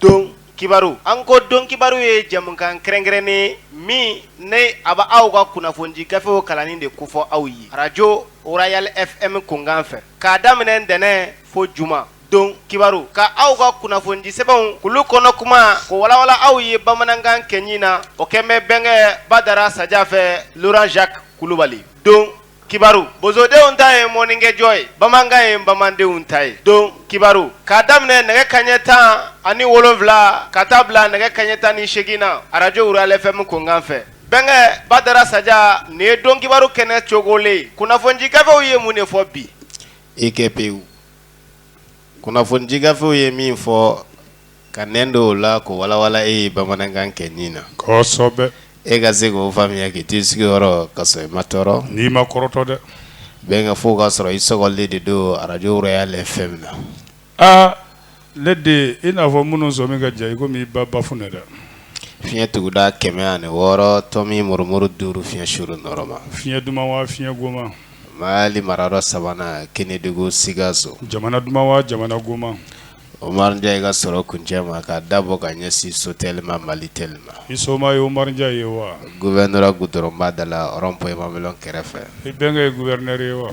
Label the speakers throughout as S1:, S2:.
S1: Don kibaru an ko don kibaru ye jɛmukan kɛrɛnkɛrɛnnen ye min ni a bɛ aw ka kunnafoni gafew kalannen de kofɔ aw ye arajo royal fm kunkan fɛ k'a daminɛ ntɛnɛn fo juma don kibaru ka aw ka kunnafoni sɛbɛnw olu kɔnɔ kuma k'o walawala aw ye bamanankan gɛnin na o kɛlen bɛ bɛnkɛ badara saja fɛ laurent jacques kulubali don kibaru bozodenw ta ye mɔnnikɛjɔ ye bamanankan ye bamanandenw ta ye don kibaru k'a daminɛ nɛgɛ kaɲɛ tan ani wolonwula ka taa bila nɛgɛ kaɲɛ tan ni seegin na arajo royal fm kunkan fɛ bɛnkɛ badara saja nin ye don kibaru kɛnɛ cogogolen kunnafoni gafew ye mun de fɔ bi e kɛ pewu kunnafoni gafew ye min fɔ ka nɛn don o la k'o walawala e ye bamanankan gɛnin na kosɛbɛ e ka se k'o faamuya k'i to i sigiyɔrɔ ka sɔrɔ i ma tɔɔrɔ n'i ma kɔrɔtɔ dɛ bɛn ka fɔ ka sɔrɔ i sɔgɔlen de don arajo royal fm na ale de i n'a fɔ minnu sɔ min ka diya i ko i ba baf ne dɛ fiɲɛ tuguda kɛmɛ ani wɔɔrɔ tomi murumuru duuru fiɲɛ surun nɔɔrɔma fiɲɛ duman wa fiɲɛ goman Mali marayɔrɔ sabanan kɛnɛdugu sikaso jamana duman wa jamana goman oumar dia i ka sɔrɔ kuncɛ ma ka da bɔ ka ɲɛsin sotelma malitel ma i soma ye oumar dia ye wa gouvernorat gudɔrɔnba da la rond-point mamelon kɛrɛfɛ i bɛnkɛ ye gouverneur ye wa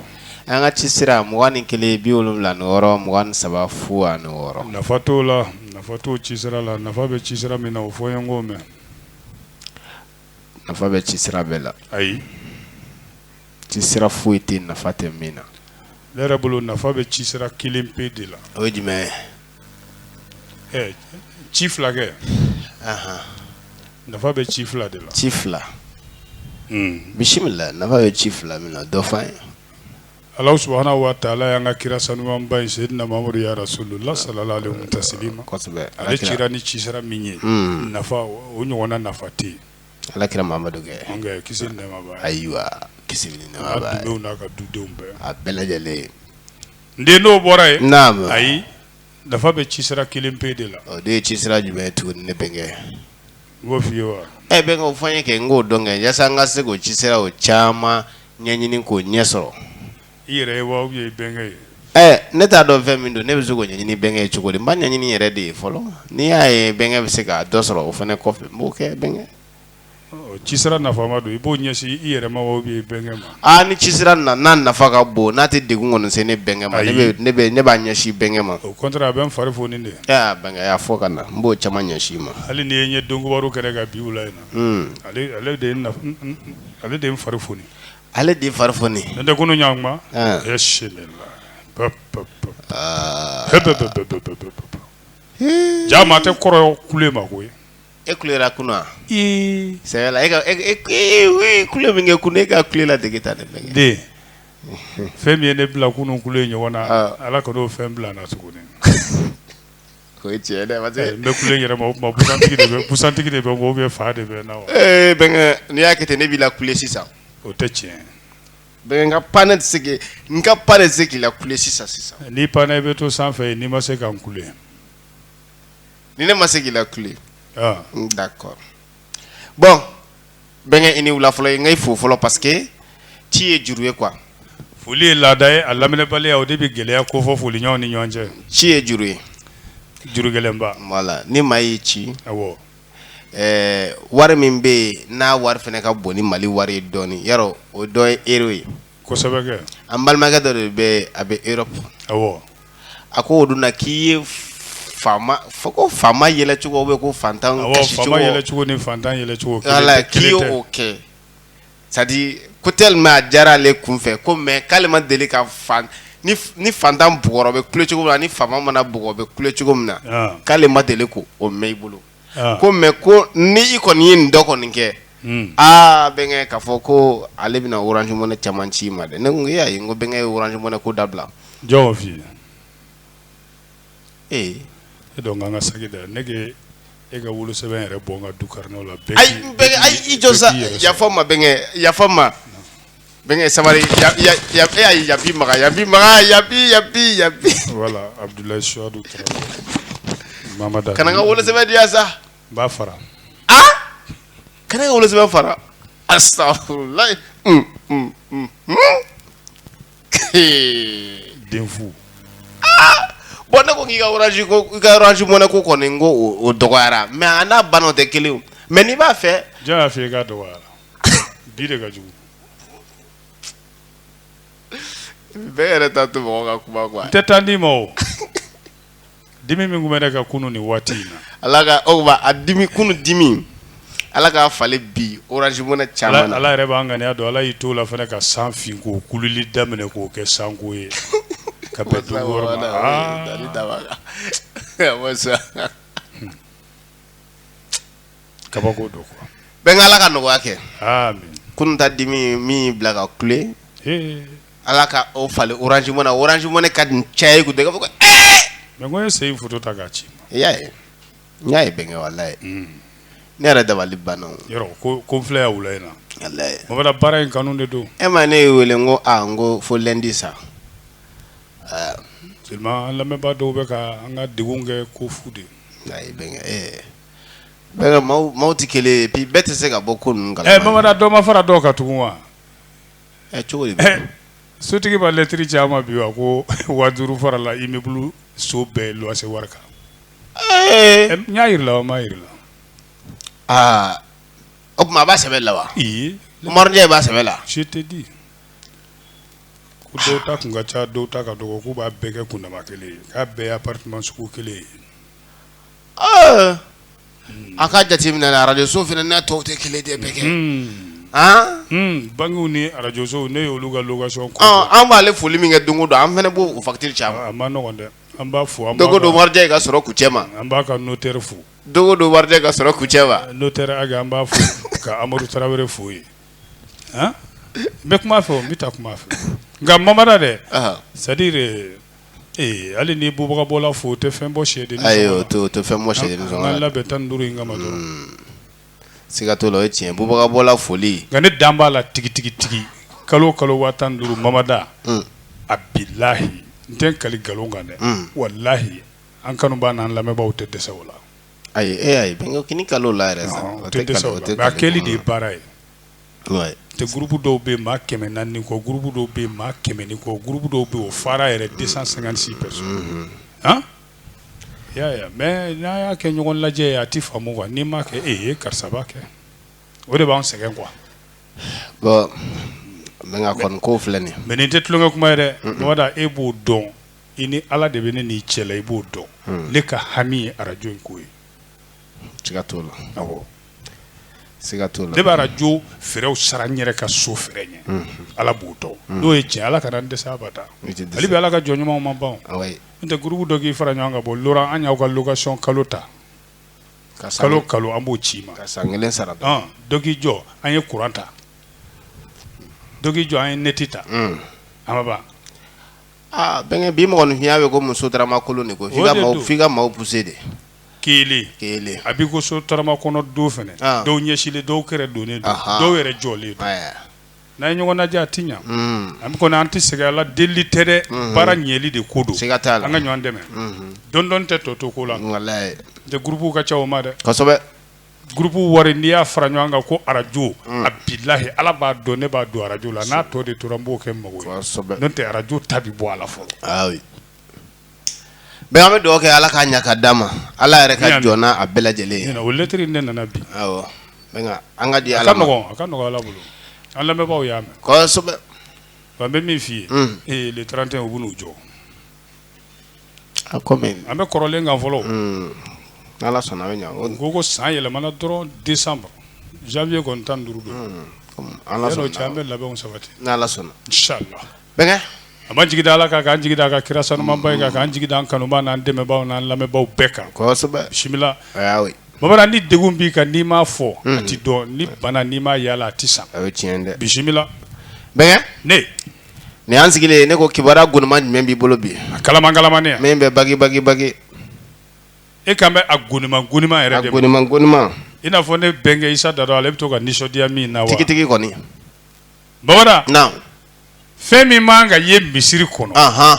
S1: an ka ci sira mugan ni kelen bi wolonwula ni wɔɔrɔ mugan ni saba fu ani wɔɔrɔ nafa t'o la nafa tɛ ci sira la nafa bɛ ci sira min na o fɔ n ye n k'o mɛn nafa bɛ ci sira bɛɛ la ayi ci sira foyi tɛ yen nafa tɛ min na ne yɛrɛ bolo nafa bɛ ci sira kelen pe de la o ye jumɛn ye ci fila kɛ nafa bɛ ci fila de la ci fila bisimila nafa bɛ ci fila min na dɔ ye Ala subhanahu wa taala y'an ka kira sanuman in seyidina mamadu ya rasulullah salallahu alayhi taslima ale ci ni ci sira min ye nafa o ɲɔgɔnna nafa tɛ yen ala kira mamadu ki ayiwa ki ka dudenw bɛɛ a bɛɛ lajɛlen n den dɔw bɔra yen n' ayi nafa bɛ ci sira kelen pe de la o de ye ci sira jumɛn ye tuguni ne bɛnkɛ e bɛnkɛ o fɔ n ye kɛ n k'o dɔn kɛ yaasa n ka se k'o ci sira o caman ɲɛɲini k'o ɲɛ sɔrɔ i yɛrɛ ye wa i bɛnkɛ ye ne t'a dɔn fɛn min don ne bɛ se k'o ɲɛɲini bɛnkɛ ye cogo di n b'a ɲɛɲini n yɛrɛ de ye fɔlɔ n'i y'a ye bɛnkɛ bɛ se ka dɔ sɔrɔ o fana kɔfɛ n b'o kɛ bɛnkɛ ci sira nafama don i b'o ɲɛsin i yɛrɛ Aa ni ci sera na n'a nafa ka bon n'a tɛ de kɔni se ne bɛnkɛ ma ne b'a ɲɛsin bɛnkɛ ma o a bɛ n fari foni de bɛnkɛ y'a fɔ ka na n b'o caman ɲɛsin ma hali ni ye ɲɛ don kibaru kɛra ka bi wula in na ale de ale de fari foni ale de fari foni n tɛ ko ɲɔgɔn ma sɛ la ja tɛ kɔrɔ kule ma koyi e kule kunun sɛ e kule min kɛ kunun e ka kulela dege ta dɛ den fɛn min ye ne bila kunun kule ɲɔgɔn na ala ka fɛn bila na tuguni o cɛ ne yɛrɛ busantigi de bɛ fa de bɛ na bɛn n'i y'a kɛ ten ne b'i lakule sisan o tɛ tiɲɛ bɛn ka pan ne tɛ n ka pan se k'i lakule sisan sisan n'i pan i bɛ to sanfɛ n'i ma se ka n kule ni ne ma se k'i lakule ah. mm, d'accord bon bɛnkɛ i ni wula fɔlɔ n ka i fo fɔlɔ parce que ci ye juru ye quoi foli ye laada ye a laminɛbaliya o de bɛ gɛlɛya ko fɔ foliɲɔgɔnw ni ɲɔgɔn cɛ ci ye juru ye juru gɛlɛnba voilà ni maa y'i ci awɔ ɛɛ wari min bɛ yen n'a wari fana ka bon ni mali wari ye dɔɔnin yarɔ o dɔ ye euro ye an balimakɛ dɔ de bɛ a bɛ e fɔ a ko o dun k'i ye fa ko fa yɛlɛcogo bɛ ko fatan kɛ sadi ko teli a diyara ale kun fɛ ko mɛ k'ale ma deli ka ni fatan b bɛ kucogo la ni fa mana b bɛ kucogo min na k'ale ma deli ko o mɛn i bolo ko mais ko ni i kɔni ye nin dɔ kɔni kɛ aa bɛnkɛ k'a fɔ ko ale bɛna orange money caman ci i ma dɛ ne ko e ayi n ko bɛnkɛ ye orange money ko dabila jɔn fi ee e dɔn ka sa dɛ ne e ka wolosɛbɛn yɛrɛ bɔ ka du kari la ayi i jɔ sa yafa n ma bɛnkɛ yafa n ma Bɛnkɛ sabali ya ya ya e ayi ya bi Makan ya bi Makan ya bi ya bi ya bi voilà Abudulayi Suyadu Tarawele Mama Dako kana n ka wolosɛbɛn di yan sa n b'a fara aa kana n ka wolosɛbɛn fara astafurulayi un un un un kee denfu bon ne ko k'i ka orange ko i ka orange money ko kɔni n ko o o dɔgɔyara mais a n'a banna o tɛ kelen ye o mais n'i b'a fɛ jɔn y'a f'i ye k'a dɔgɔyara bi de ka jugu bɛɛ yɛrɛ t'a to mɔgɔ ka kuma quoi tɛ taa di ma o dimi min tun bɛ ne kan kunun ni waati in na ala ka aw a dimi kunun dimi ala k'a falen bi orange money caman na ala yɛrɛ b'an ŋaniya dɔn ala y'i t'o la fana ka san fin k'o kululi daminɛ k'o kɛ sanko ye ka bɛn dugu wɔɔrɔ ma aa kabako don bɛnkɛ ala ka nɔgɔya kɛ kunta dimi min b'i la ka kule ala ka o falen orange money orange money ka nin cɛ ye dɛ fɔ mɛ ye se foto ta k'a ci i ma i y'a ye n y'a ye bɛnkɛ walayi ne yɛrɛ dabali banna ko filɛ y' wula in na baara in kanu de don e ma ne ye wele ko n ko fo lɛndi sa lamɛnbaa dɔw bɛ ka an ka degun kɛ ko fu de ye bɛn Maaw tɛ kelen ye puis bɛɛ tɛ se ka bɔ ko mamada dɔ ma fara dɔ kan tugun wa sotigi ma lɛtiri ci an ma bi wa ko waa duuru farala immeuble so bɛɛ luwanse wari kan n y'a jira i la wa n m'a jira i la aa o tuma a b'a sɛbɛn la wa ɲɛ b'a sɛbɛn la c'est-à-dire ko dɔw ta tun ka ca dɔw ta ka dɔgɔ k'u b'a bɛɛ kɛ kundama kelen ye k'a bɛɛ appartement sugu kelen ye a ka jate minɛ arajoso fana n'a tɔw tɛ kelen de ye bɛnkɛ bankiw ni arajoso ne olu ka location an b'ale foli min kɛ don o don an fana b' facture ca dɛ an b'a fo don o don warijɛ ka sɔrɔ ku cɛ ma an b'a ka notaire fo don o don warijɛ ka sɔrɔ ku cɛ ma notaire an b'a fɔ ka amadu tarawele wɛrɛ fo ye n bɛ kuma fɛ n bɛ taa kuma fɛ nka mamada dɛ c'est-à-dire Ee hali ni bubagabɔla fo o tɛ fɛn bɔ sɛden tɛ fɛn bɔ sɛ labɛn tan ni duuru in kama siga t'o la o ye tiɲɛ bubagabɔla foli nka ne dalen b'a la tigitigitigi kalo o kalo waa tan duuru mamada a bilayi n tɛ kali nkalon kan dɛ walayi an kanubaa n'an lamɛnbaa tɛ dɛsɛ o la ayi e kalo la a kɛli de ye baara ye tɛ groupe dɔw bɛ maa kɛmɛ naani ni kɔ groupe dɔw bɛ maa kɛmɛ ni kɔ groupe dɔw bɛ o fara yɛrɛ deux cent cinquante-six personnes ya mais n'a y'a kɛ ɲɔgɔn lajɛ ye a tɛ faamu wa n'i m'a kɛ e ye karisa b'a kɛ o de b'an sɛgɛn kuwa n ko filɛ nin mais nin tɛ tulonlankɛ kuma ye dɛ e b'o dɔn i ni ala de bɛ ne n'i cɛ la i b'o dɔn ne ka hami ye arajo in ko ye siga t'o la, awɔ, siga t'o la, ne bɛ arajo fraisw sara n yɛrɛ ka so frais ɲɛ, unhun, Ala b'o dɔn, unhun, n'o ye tiɲɛ ye Ala kana n dɛsɛ abada, i tɛ dɛsɛ, hali bi Ala ka jɔn ɲumanw ma ban, wayi, n'o tɛ groupe dɔ k'i fara ɲɔgɔn kan bɔ Loran an y'aw ka location kalo ta, ka san, kalo o kalo an b'o ci i ma, ka san kelen sara, ɔn, dɔ k'i jɔ an ye courant ta, dɔ k'i jɔ an ye net ta, un, a ma ban, aa, bɛnkɛ bi mɔgɔninfinya bɛ ko muso daramakolo de ko f'i ka maaw pousser de kelen kelen a b'i ko sotarama kɔnɔ don fana Ah. dɔw ɲɛsilen dɔw kɛrɛ donnen don Aha. dɔw yɛrɛ jɔlen don ɛɛ n'an ye ɲɔgɔn lajɛ a ti ɲa mm, an kɔni an tɛ sɛgɛn a la delili tɛ dɛ baara ɲɛli de ko don siga t'a la an ka ɲɔgɔn dɛmɛ Mhm. dɔndɔn tɛ tɔ to ko la walayi n'o tɛ gurupuw ka ca o ma dɛ kosɛbɛ gurupuw wari n'i y'a fara ɲɔgɔn kan ko arajo a bilahi ala b'a dɔn ne b'a don arajo la n'a tɔ de tora n b'o kɛ n mago ye kosɛbɛ n'o tɛ arajo ta bi bɔ a la fɔlɔ ayi Bɛnkɛ an bɛ dɔgɔ kɛ ala k'a ɲɛ ka d di ma ala yɛrɛ ka jɔn a bɛɛ lajɛlen an ka di ala an bɛ min f'i ye le trente et un u b'u jɔ an bɛ kɔrɔlen kan fɔlɔ ala sɔnna ko ko san yɛlɛmana dɔrɔn di zanwiye kɔni tan duuru don an bɛ labɛn sabati sɔnna an b'an jigi da ala kan k'an jigi d'a ka kira sanumanba in kan k'an jigi d'an kanuba n'an dɛmɛbagaw n'an lamɛnbaw bɛɛ kan bisimila bamanan ni denw b'i kan n'i m'a fɔ a tɛ dɔn ni bananin ma yaala a tɛ san bisimila ne nin y'an sigilen ye ne ko kibaru goniman jumɛn b'i bolo bi a kalaman kalamannin min bɛ bagibagi bagi e kan bɛ a goniman goniman yɛrɛ de ma i n'a fɔ ne bɛnkɛ isa da dɔn ale bɛ to ka nisɔndiya min na tigitigi kɔni Baba fɛn min man kan ka ye misiri kɔnɔ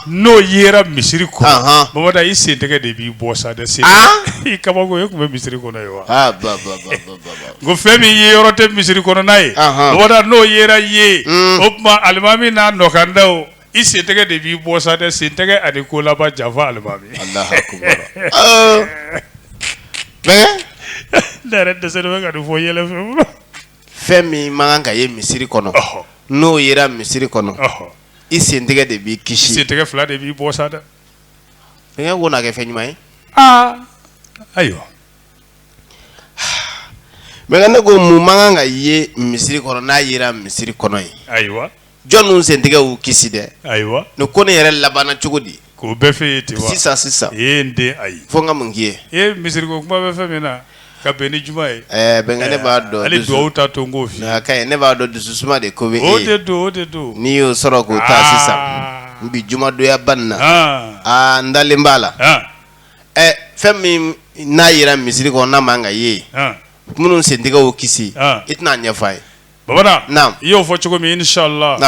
S1: n'o yera misiri kɔnɔ baba i sentɛgɛ de b'i bɔ sa dɛ i kaba e tun bɛ misiri kɔnɔ ye wa ko fɛn min yeyɔrɔ tɛ misiri kɔnɔ n'a ye baba n'o yera yen hmm. o tuma alimami n'a nɔkanda o i sentɛgɛ de b'i bɔ sa dɛ sentɛgɛ ani ko laban janfa ali dɛsɛ bɛ ka fɔ yɛlɛ fɛ fɛn min man kan ka ye misiri kɔnɔ n'o yera misiri kɔnɔ i sentɛgɛ de b'i kisi sentɛgɛ fila de b'i bɔ sa dɛ denkɛ ko na kɛ fɛn ɲuman ye aa ayiwa bɛnkɛ ne ko mun man kan ka ye misiri kɔnɔ n'a yera misiri kɔnɔ ye ayiwa jɔn ninnu sentɛgɛ y'u kisi dɛ ayiwa ne ko ne yɛrɛ labanana cogo di k'o bɛɛ fɛ ye ten sisan sisan e n den ayi fo ka mun k'i ye e misiri ko kuma bɛ fɛn min na ka bɛn ni juma ye bɛn ne b'a dɔn hali dugawu ta to n ko ye ne b'a dɔn dusu suma de ko bɛ o de don o de don n'i y'o sɔrɔ k'o taa sisan n bi jumadoya ban na aa n dalen b'a la ɛ fɛn min n'a yera misiri kɔnɔ n'a man kan ka ye minnu sentɛgɛ y'u kisi i tɛn'a ɲɛf'an ye bamada i y'o fɔ cogo min inisala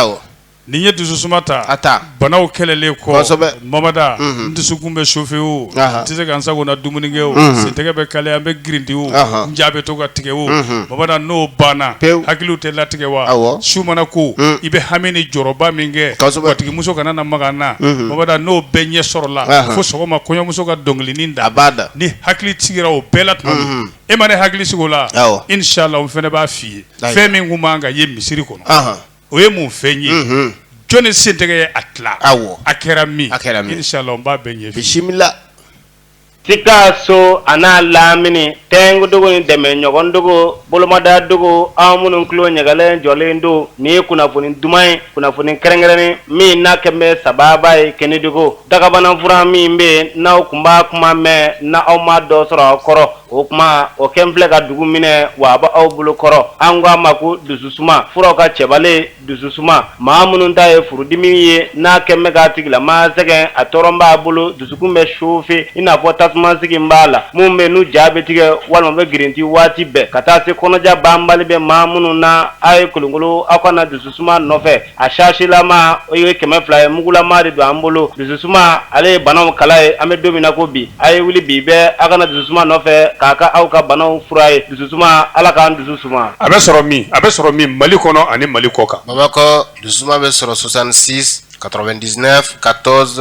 S1: n'i ye dusu suma ta a taa banaw kɛlɛlen kɔ bamada dusukun bɛ sofe o tɛ se ka sago na dumuni kɛ o sen tɛgɛ bɛ kalaya n bɛ grinti o n ja bɛ to ka tigɛ o bamada n'o banna pewu hakili tɛ latigɛ wa su mana ko i bɛ hami ni jɔrɔba min kɛ batigimuso kana na maga n na bamada n'o bɛɛ ɲɛ sɔrɔla fo sɔgɔma kɔɲɔmuso ka dɔnkili nin da bamada ne hakili sigira o bɛɛ la tuma e ma ne hakili sigi o la awɔ inisala n fana b'a f'i ye Ayiwa. fɛn min tun b'an ka ye misiri kɔnɔ Ahan. o ye mun fɛn ye Mhm. jɔnni sen tɛgɛ ye a tila Awɔ. a kɛra min A kɛra min. inisala n b'a bɛɛ ɲɛ f'i ye. bisimila Sikaso a n'a lamini tɛngudugu ni dɛmɛ ɲɔgɔn dugu bolomada dugu aw minnu tulo ɲagalen jɔlen don nin ye kunnafoni duman ye kunnafoni kɛrɛnkɛrɛnnen min n'a kɛmɛ sababu ye kɛnɛdugu Dagabanafuran min bɛ yen n'aw tun b'a kuma mɛn n'aw ma dɔ sɔrɔ aw kɔrɔ o tuma o kɛlen filɛ ka dugu minɛ wa aw bolo kɔrɔ an k'a ma ko dusu suma furaw ka cɛbalen dusu suma maa minnu ta ye furudimi ye n'a kɛlen bɛ ka tigilamaa sɛgɛn a tɔɔrɔ b'a bolo dusukun bɛ sofe i n'a fɔ tasuma sigilen b'a la minnu bɛ n'u ja bɛ tigɛ walima bɛ grinti waati bɛɛ ka taa se kɔnɔja banbali bɛ maa minnu na aw ye kolonkolon aw ka na dusu suma nɔfɛ a sasilama o ye kɛmɛ fila ye mugulama de don an bolo dususuma ale ye banaw kala ye an bɛ don min na ko bi a ye wuli bi bɛɛ aw ka na dususuma nɔfɛ k'a kɛ aw ka banaw fura ye dususuma ala k'an dusu suma a bɛ sɔrɔ min a bɛ sɔrɔ min mali kɔnɔ ani mali kɔkan bamakɔ dusu bɛ sɔrɔ soixante-six quatre-vingt-neuf quatorze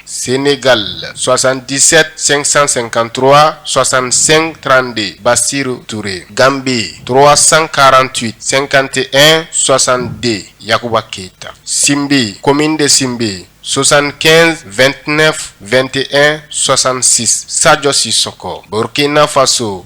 S1: Sen ne ka la sɔsan kisɛ sansankantura sɔsan sen trante baasisi toure danbe tɔgɔ sankaran tun sen kante n sɔsan den yakuba keyita sinbe ko min de sen bɛ yen sonsan kɛ2tinɛ2te sɔsansi sajɔsisoko bkina faso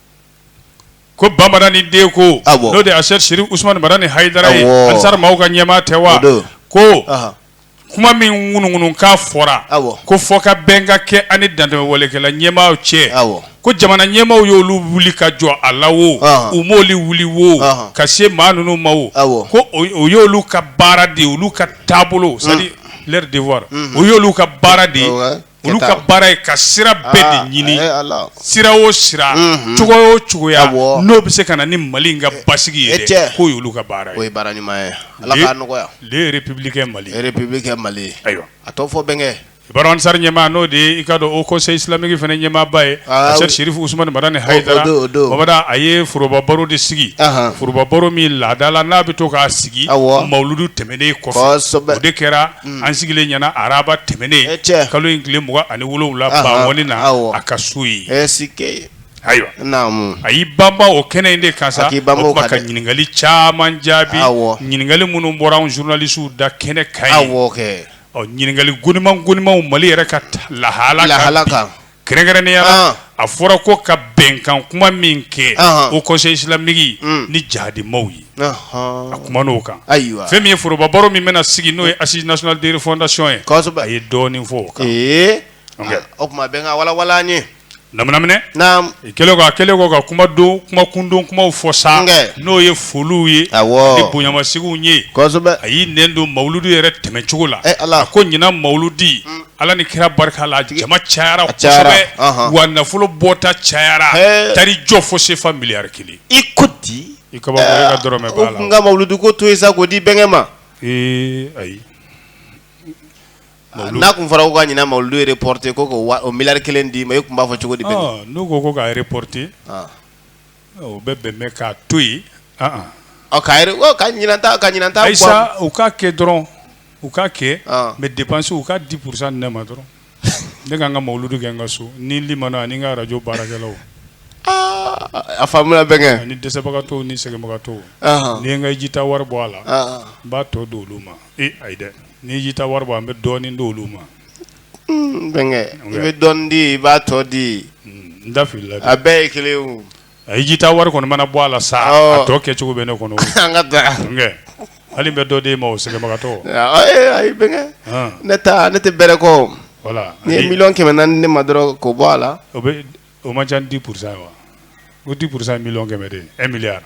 S1: ko ba madani den ko n'o de aseyidi serifu usumani madani hayidara ye ansari maaw ka ɲɛmaa tɛ wa ko kuma min ŋunuŋunukan fɔra ko fɔkabɛn ka kɛ ani dantɛmɛwalekɛla ɲɛmaaw cɛ ko jamana ɲɛmaaw y'olu wuli ka jɔ a la wo u m'olu wuli wo ka se maa ninnu ma wo ko o y'olu ka baara de olu ka taabolo c'est-à-dire leur devoir o y'olu ka baara de ye Olu ka baara ye ka sira bɛɛ de ah, ɲini sira o sira mhm. cogo o cogoya n'o bɛ se ka na ni mali ka basigi ye k'o y'olu ka baara ye baara ɲuman ye ala ka nɔgɔya république mali république mali ayiwa a tɔ fɔ bɛnkɛ bara ansari ɲɛmaa n'o de ye i k'a dɔn haut conseil islamique fana ɲɛmaaba ye aseyidi serifu usumani madani hayidara a ye foroba baro de sigi foroba baro min laada la n'a bɛ to k'a sigi mawuludu tɛmɛnen kɔfɛ o de kɛra an sigilen yan araba tɛmɛnen kalo in tile mugan ani wolonwula bankoni na a ka so yen ayiwa a y'i banba o kɛnɛ in de kan ka ɲininkali caman jaabi ɲininkali minnu bɔra an zurunalisiw da kɛnɛ kan ɲininkali goniman gonimanw mali yɛrɛ ka lahala lahala kan kɛrɛnkɛrɛnnenya la, ɔn, a fɔra ko ka bɛnkan kuma min kɛ Ɔnhɔn. haut conseil islamique Mm. ni jihadimaw ye ɔhɔn. a kumana o kan ayiwa fɛn min ye foroba baro min bɛna sigi n'o ye assise nationale de refondation ye kosɛbɛ a ye dɔɔnin fɔ o kan ee Ok. ah, o tuma bɛn k'a walawala an ye naminaminɛ naam i kɛlen kɔ a kɛlen kɔ ka kuma don kuma kundon kumaw fɔ sa Nkɛ. n'o ye foliw ye Awɔ. ni bonyamasigiw ye kosɛbɛ a y'i nɛn don mawuludu yɛrɛ tɛmɛcogo la Eh, Ala. a ko ɲinan mawuludi Ala ni kira barika la jama cayara wa nafolo bɔta cayara tari jɔ fo sefa miliyari kelen i ko di n ka mawuludu ko to yen sa k'o di bɛnkɛ ma ayi n'a tun fɔra ko ka ɲinan mawuludu in reporte ko ko miliyari kelen d'i ma e tun b'a fɔ cogo di bɛ n'u ko ko k'a reporte O bɛ bɛn n ma k'a to yen ka ka u k'a kɛ dɔrɔn u k'a kɛ mɛ dépense u ka dix pourcent ne ma dɔrɔn ne ka n ka mawuludu kɛ n ka so ni mana ni n ka arajo baarakɛlaw a faamuna bɛnkɛ ni dɛsɛbagatɔw ni sɛgɛnbagatɔw ni n ka jita wari bɔ a la n b'a tɔ don olu ma ee ayi dɛ ni jita wari bɔra n bɛ dɔɔnin don olu ma N bɛnkɛ i bɛ dɔɔnin di i b'a tɔ di n da filila a bɛɛ ye kelen a jita wari kɔni mana bɔ a la sa a tɔ kɛcogo bɛ ne kɔnɔ an ka taa hali n bɛ dɔ di maa sɛgɛnbagatɔw ma ayi bɛnkɛ ne ta ne tɛ bɛrɛ ko ni miliyɔn kɛmɛ nana ne ma dɔrɔn k'o bɔ a la o o man ca dix pourcent wa o dix pourcent miliyɔn kɛmɛ de ye miliyari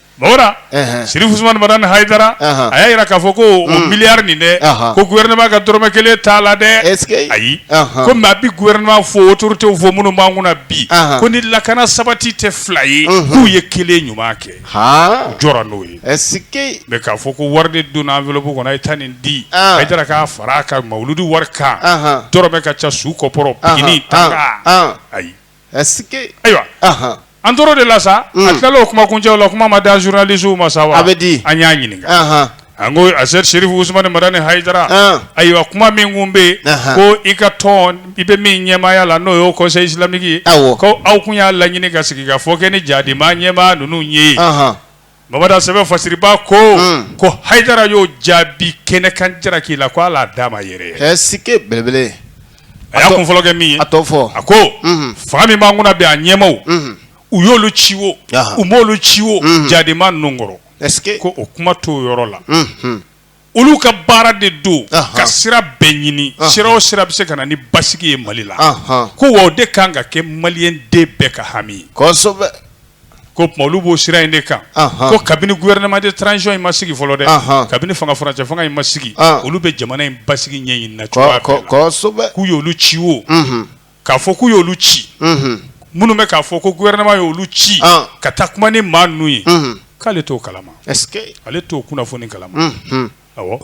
S1: Mara serifu usumani madani hayidara a y'a jira k'a fɔ ko o miliyari nin dɛ ko gouvernement ka dɔrɔmɛ kelen t'a la dɛ ayi komi a bɛ gouvernement fo autoritéw fo minnu b'an kunna bi ko ni lakana sabati tɛ fila ye k'u ye kelen ɲuman kɛ u jɔra n'o ye mɛ k'a fɔ ko wari don enveloppe kɔnɔ a ye taa nin di hayidara ma k'a fara a ka mawuludu wari kan dɔrɔmɛ ka ca su kɔpɔrɔ pikini t'a la ayi ayiwa an tora o de la sa a tilala o kuma kuncɛ la kuma ma da zurunalisiw ma sa a bɛ di an y'a ɲininka an ko a se serifu usumani madani hayidara ayiwa kuma min tun bɛ yen ko i ka tɔn i bɛ min ɲɛmaaya la n'o ye haut conseil islamique ye ko aw tun y'a laɲini ka sigikafɔ kɛ ni jihadima ɲɛmaa ninnu ye ye Baba sɛbɛn fasiba ko ko hayidara y'o jaabi kɛnɛ kan jara k'i la k ko ala d'a ma yɛrɛ si belebele a y'a kun fɔlɔ kɛ min a fɔ a ko fanga min b'an kunna bi a ɲɛmaaw u y'olu ci o u m'olu ci o jihadima ninnu kɔrɔ ko o kuma to yɔrɔ la olu ka baara de don ka sira bɛɛ ɲini sira o sira bɛ se ka na ni basigi ye mali la ko wa o de ka kan ka kɛ maliden bɛɛ ka hami k'o tuma olu b'o sira in de kan ko kabini gouvernement de transition in ma sigi fɔlɔ dɛ kabini fanga furancɛ fanga in ma sigi olu bɛ jamana in basigi ɲɛɲini na k'u ye olu ci o k'a fɔ k'u y'olu ci minnu bɛ k'a fɔ ko gouvernement y'olu ci ka taa kuma ni maa ninnu ye k'ale t'o kalama ale t'o kunnafoni kalama awɔ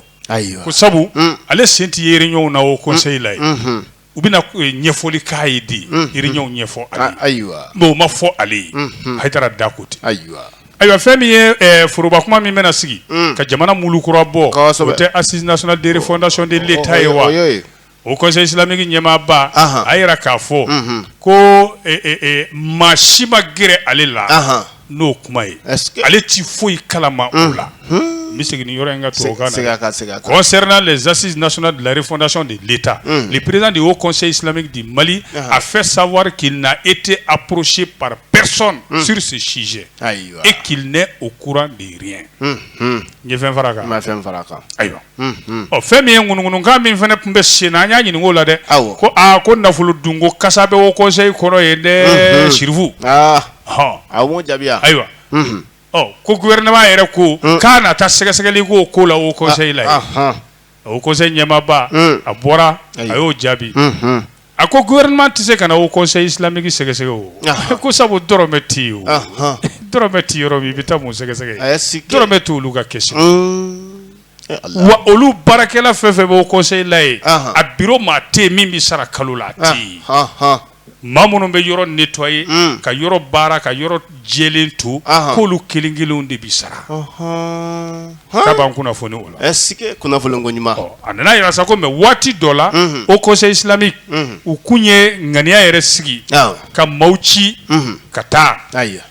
S1: ko sabu ale sen tɛ ye réunion na haut conseil la yen u bɛna ɲɛfɔli k'a ye de réunion ɲɛfɔ ale ye mais o ma fɔ ale ye Hayidara da ko tɛ ayiwa fɛn min ye foroba kuma min bɛna sigi ka jamana mulu kura bɔ o tɛ assises nationales de refondation de l'Etat ye wa. o kɔsɔn silamɛmiki ɲɛmaaba a yɛrɛ k'a fɔ ko maa si ma gɛrɛ ale la n'o kuma ye ale tɛ foyi kalama o la n bɛ segin yɔrɔ in ka to kɔsɛ de zsi nas lare fɔnac de leta ni perez de y'o kɔsɔn silamɛmiki di mali a fɛ sawa k'i na e tɛ a porosi papɛsɔn sirisi sisi e k'i o kuran de ɲɛ fɛn fara kan fɛn fara kan ayiwa ɔ fɛn min ye ŋunuŋunukan min fana tun bɛ sen na an y'a ɲinink'o la dɛ ko aa ko nafolo dun ko kasa bɛ haut conseil kɔnɔ yen dɛ sirifu hɔn jaabi ayiwa ɔ ko gouvernement yɛrɛ ko k'a na taa sɛgɛsɛgɛli k'o ko la haut conseil la haut conseil ɲɛmaaba a bɔra a y'o jaabi A ko gouvernement tɛ se ka na haut conseil islamique sɛgɛsɛgɛ o, anhan, ko sabu dɔrɔmɛ tɛ yen o, anhan, dɔrɔmɛ tɛ yɔrɔ min i bɛ taa mun sɛgɛsɛgɛ yen, dɔrɔmɛ tɛ olu ka kɛsu la, un, e Ala, wa olu baarakɛla fɛn o fɛn bɛ haut conseil la yen, anhan, a bureau maa tɛ yen min bɛ sara kalo la a tɛ yen, anhan, maa minnu bɛ yɔrɔ nettoyer un, ka yɔrɔ baara ka yɔrɔ jɛlen to, anhan, k'olu kelen kelenw de bɛ sara, ɔnhɔn. Ka ban kunnafoni o la. Ɛ si kɛ kunnafoni ko ɲuman. Ɔ a nana jira sa ko mais waati dɔ la. Unhun. Haut conseil islamique. Unhun. U kun ye ŋaniya yɛrɛ sigi. Awɔ. Ka maaw ci. Unhun. Ka taa. Ayiwa.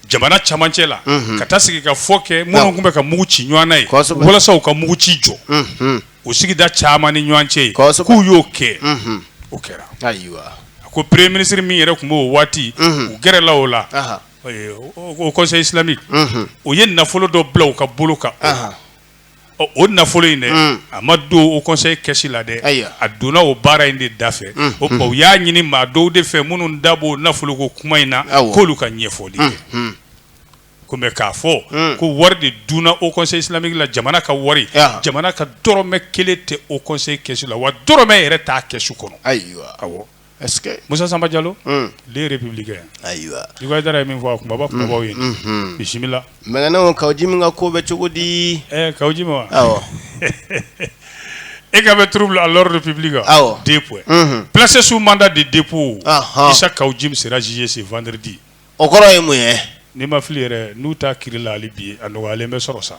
S1: Jamana camancɛ la. Unhun. Ka taa sigikafɔ kɛ. Awɔ. Minnu tun bɛ ka mugu ci ɲɔɔn na yen. Kosɛbɛ. Walasa u ka mugu ci jɔ. Unhun. O sigida caman ni ɲɔɔn cɛ yen. Kosɛbɛ. K'u y'o kɛ. Unhun. O kɛra. Ayiwa. A ko premier ministre min yɛrɛ tun b'o waati. Unhun. U gɛrɛla o la. Ahan. conseil islamique u ye nafolo dɔ bila u ka bolo kan o nafolo in dɛ a ma don haut conseil kɛsu la dɛ a donna o baara in de da fɛ o tuma u y'a ɲini maa dɔw de fɛ minnu da b'o nafolo ko kuma in na k'olu ka ɲɛfɔli kɛ kɔmi k'a fɔ ko wari de dunna haut conseil islamique la jamana ka wari jamana ka dɔrɔmɛ kelen tɛ haut conseil kɛsu la wa dɔrɔmɛ yɛrɛ t'a kɛsu kɔnɔ ayi Musa Samba Jalo Le Républicain ayiwa i ye min fɔ a kunba kunbabaw ye bisimila mɛɛna Kawu Jim ka ko bɛ cogo di Kawu Jim wa e ka bɛ trouble à l'ordre public awɔ deux points placé sous mandat de dépôt Isa Kawu Jim sera jugé ce vendredi o kɔrɔ ye mun ye ni n ma fili yɛrɛ n'u t'a kiiri la hali bi a nɔgɔ bɛ sɔrɔ sa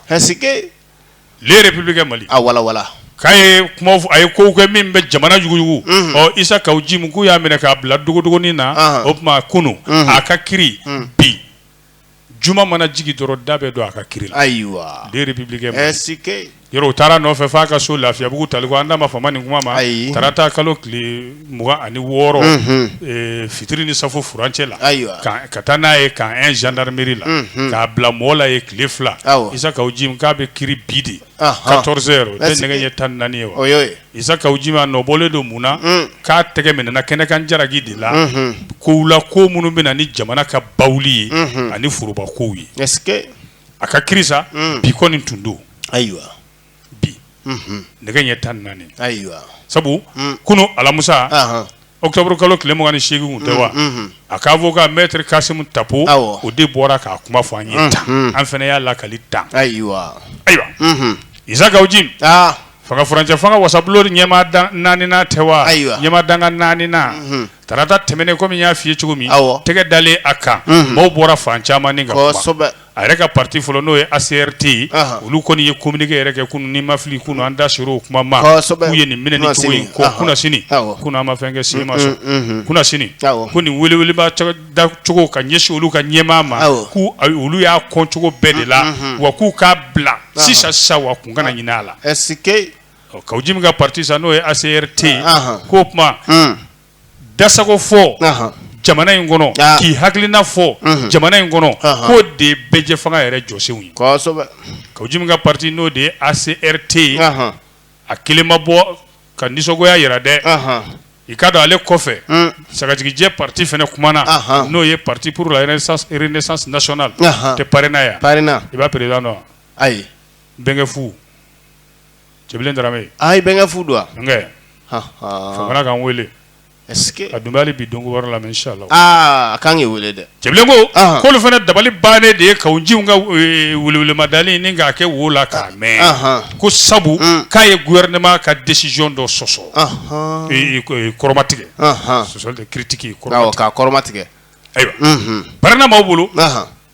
S1: républicain mali a walawala k'a ye kuma a ye ko kɛ min bɛ jamana yuguyugu isa kawu jim k'u y'a minɛ k'a bila dogodogonin na o tuma kunun a ka kiiri bi juma mana jigi dɔrɔn da bɛ don a ka kiiri la ayiwa le républicain yɛrɛ u taara a nɔfɛ fo a ka so lafiyabugu taliko an da ma fama nin kuma ma tarata kalo tile mugan ani wɔɔrɔ fitiri ni safo furancɛ la ka taa n'a ye camp un gendarmerie la k'a bila mɔgɔ la yen tile fila isa kawu jim k'a bɛ kiiri bi de quatorze heures tɛ nɛgɛ ɲɛ tan naani ye wa isa kawu jim a nɔbɔlen don mun na k'a tɛgɛ minɛna kɛnɛkan jalaki de la ko la ko minnu bɛ na ni jamana ka ba ye ani foroba kow ye a ka kiiri sa bi kɔni tun don ayiwa bi nɛgɛ ɲɛ tan naani ayiwa sabu kunun alamusa octobre kalo tile mugan ni seegin tɛ wa a ka avocat mɛtiri kasumu tapo o de bɔra k'a kuma fɔ an ye tan an fana y'a lakali tan ayiwa isa kawu jim fanga furancɛ fanga wasabulon ɲɛmaa naaninan tɛ wa ayiwa ɲɛmaa dankan naaninan tarata tɛmɛnen kɔmi n y'a fɔ i ye cogo min tɛgɛ dalen a kan maaw bɔra fan caman a yɛrɛ ka pati fɔlɔ n'o ye acrt olu kɔni ye communiqué yɛrɛ kɛ kunun ni n ma fili kunun an da sera o kuma ma k'u ye nin minɛ cogo in ko kun sini kun ma fɛn kɛ sema sɔn kun sini ko nin welewele da cogo ka ɲɛsin olu ka ɲɛmaa ma k' olu y'a kɔn cogo bɛɛ de la wa k'u k'a bila sisan sisan wa kun kana ɲinin a la kawu jim ka pati n'o ye acrt k'o kuma da sago fɔ jamana in kɔnɔ ah. k'i hakilina fɔ mhm. jamana in kɔnɔ k'o de ye bɛɛjɛ fanga yɛrɛ jɔsenw ye kawu jim ka pati n'o de ye acrt ye a kelen ma bɔ ka nisɔngoya yira dɛ i ka don ale kɔfɛ mm. sagajigijɛ pati fana kumana n'o ye pati pour la renaissance nationale tɛ parena yan i b'a président dɔn ayi bɛnkɛ fu cɛbilen darame a ye bɛnkɛ fu don ka kan weele a dunbali bi don wɛrɛ la inchallah an ka kan k'i weele dɛ cɛbilen ko k'olu fana dabali bannen de ye kawu jim ka welewele ma dalen ni k'a kɛ wo la k'a mɛn ko sabu k'a ye gouvernement ka décision dɔ sɔsɔ kɔrɔma tigɛ sɔ tɛ critique kɔrɔ k'a kɔrɔma tigɛ ayiwa parena maaw bolo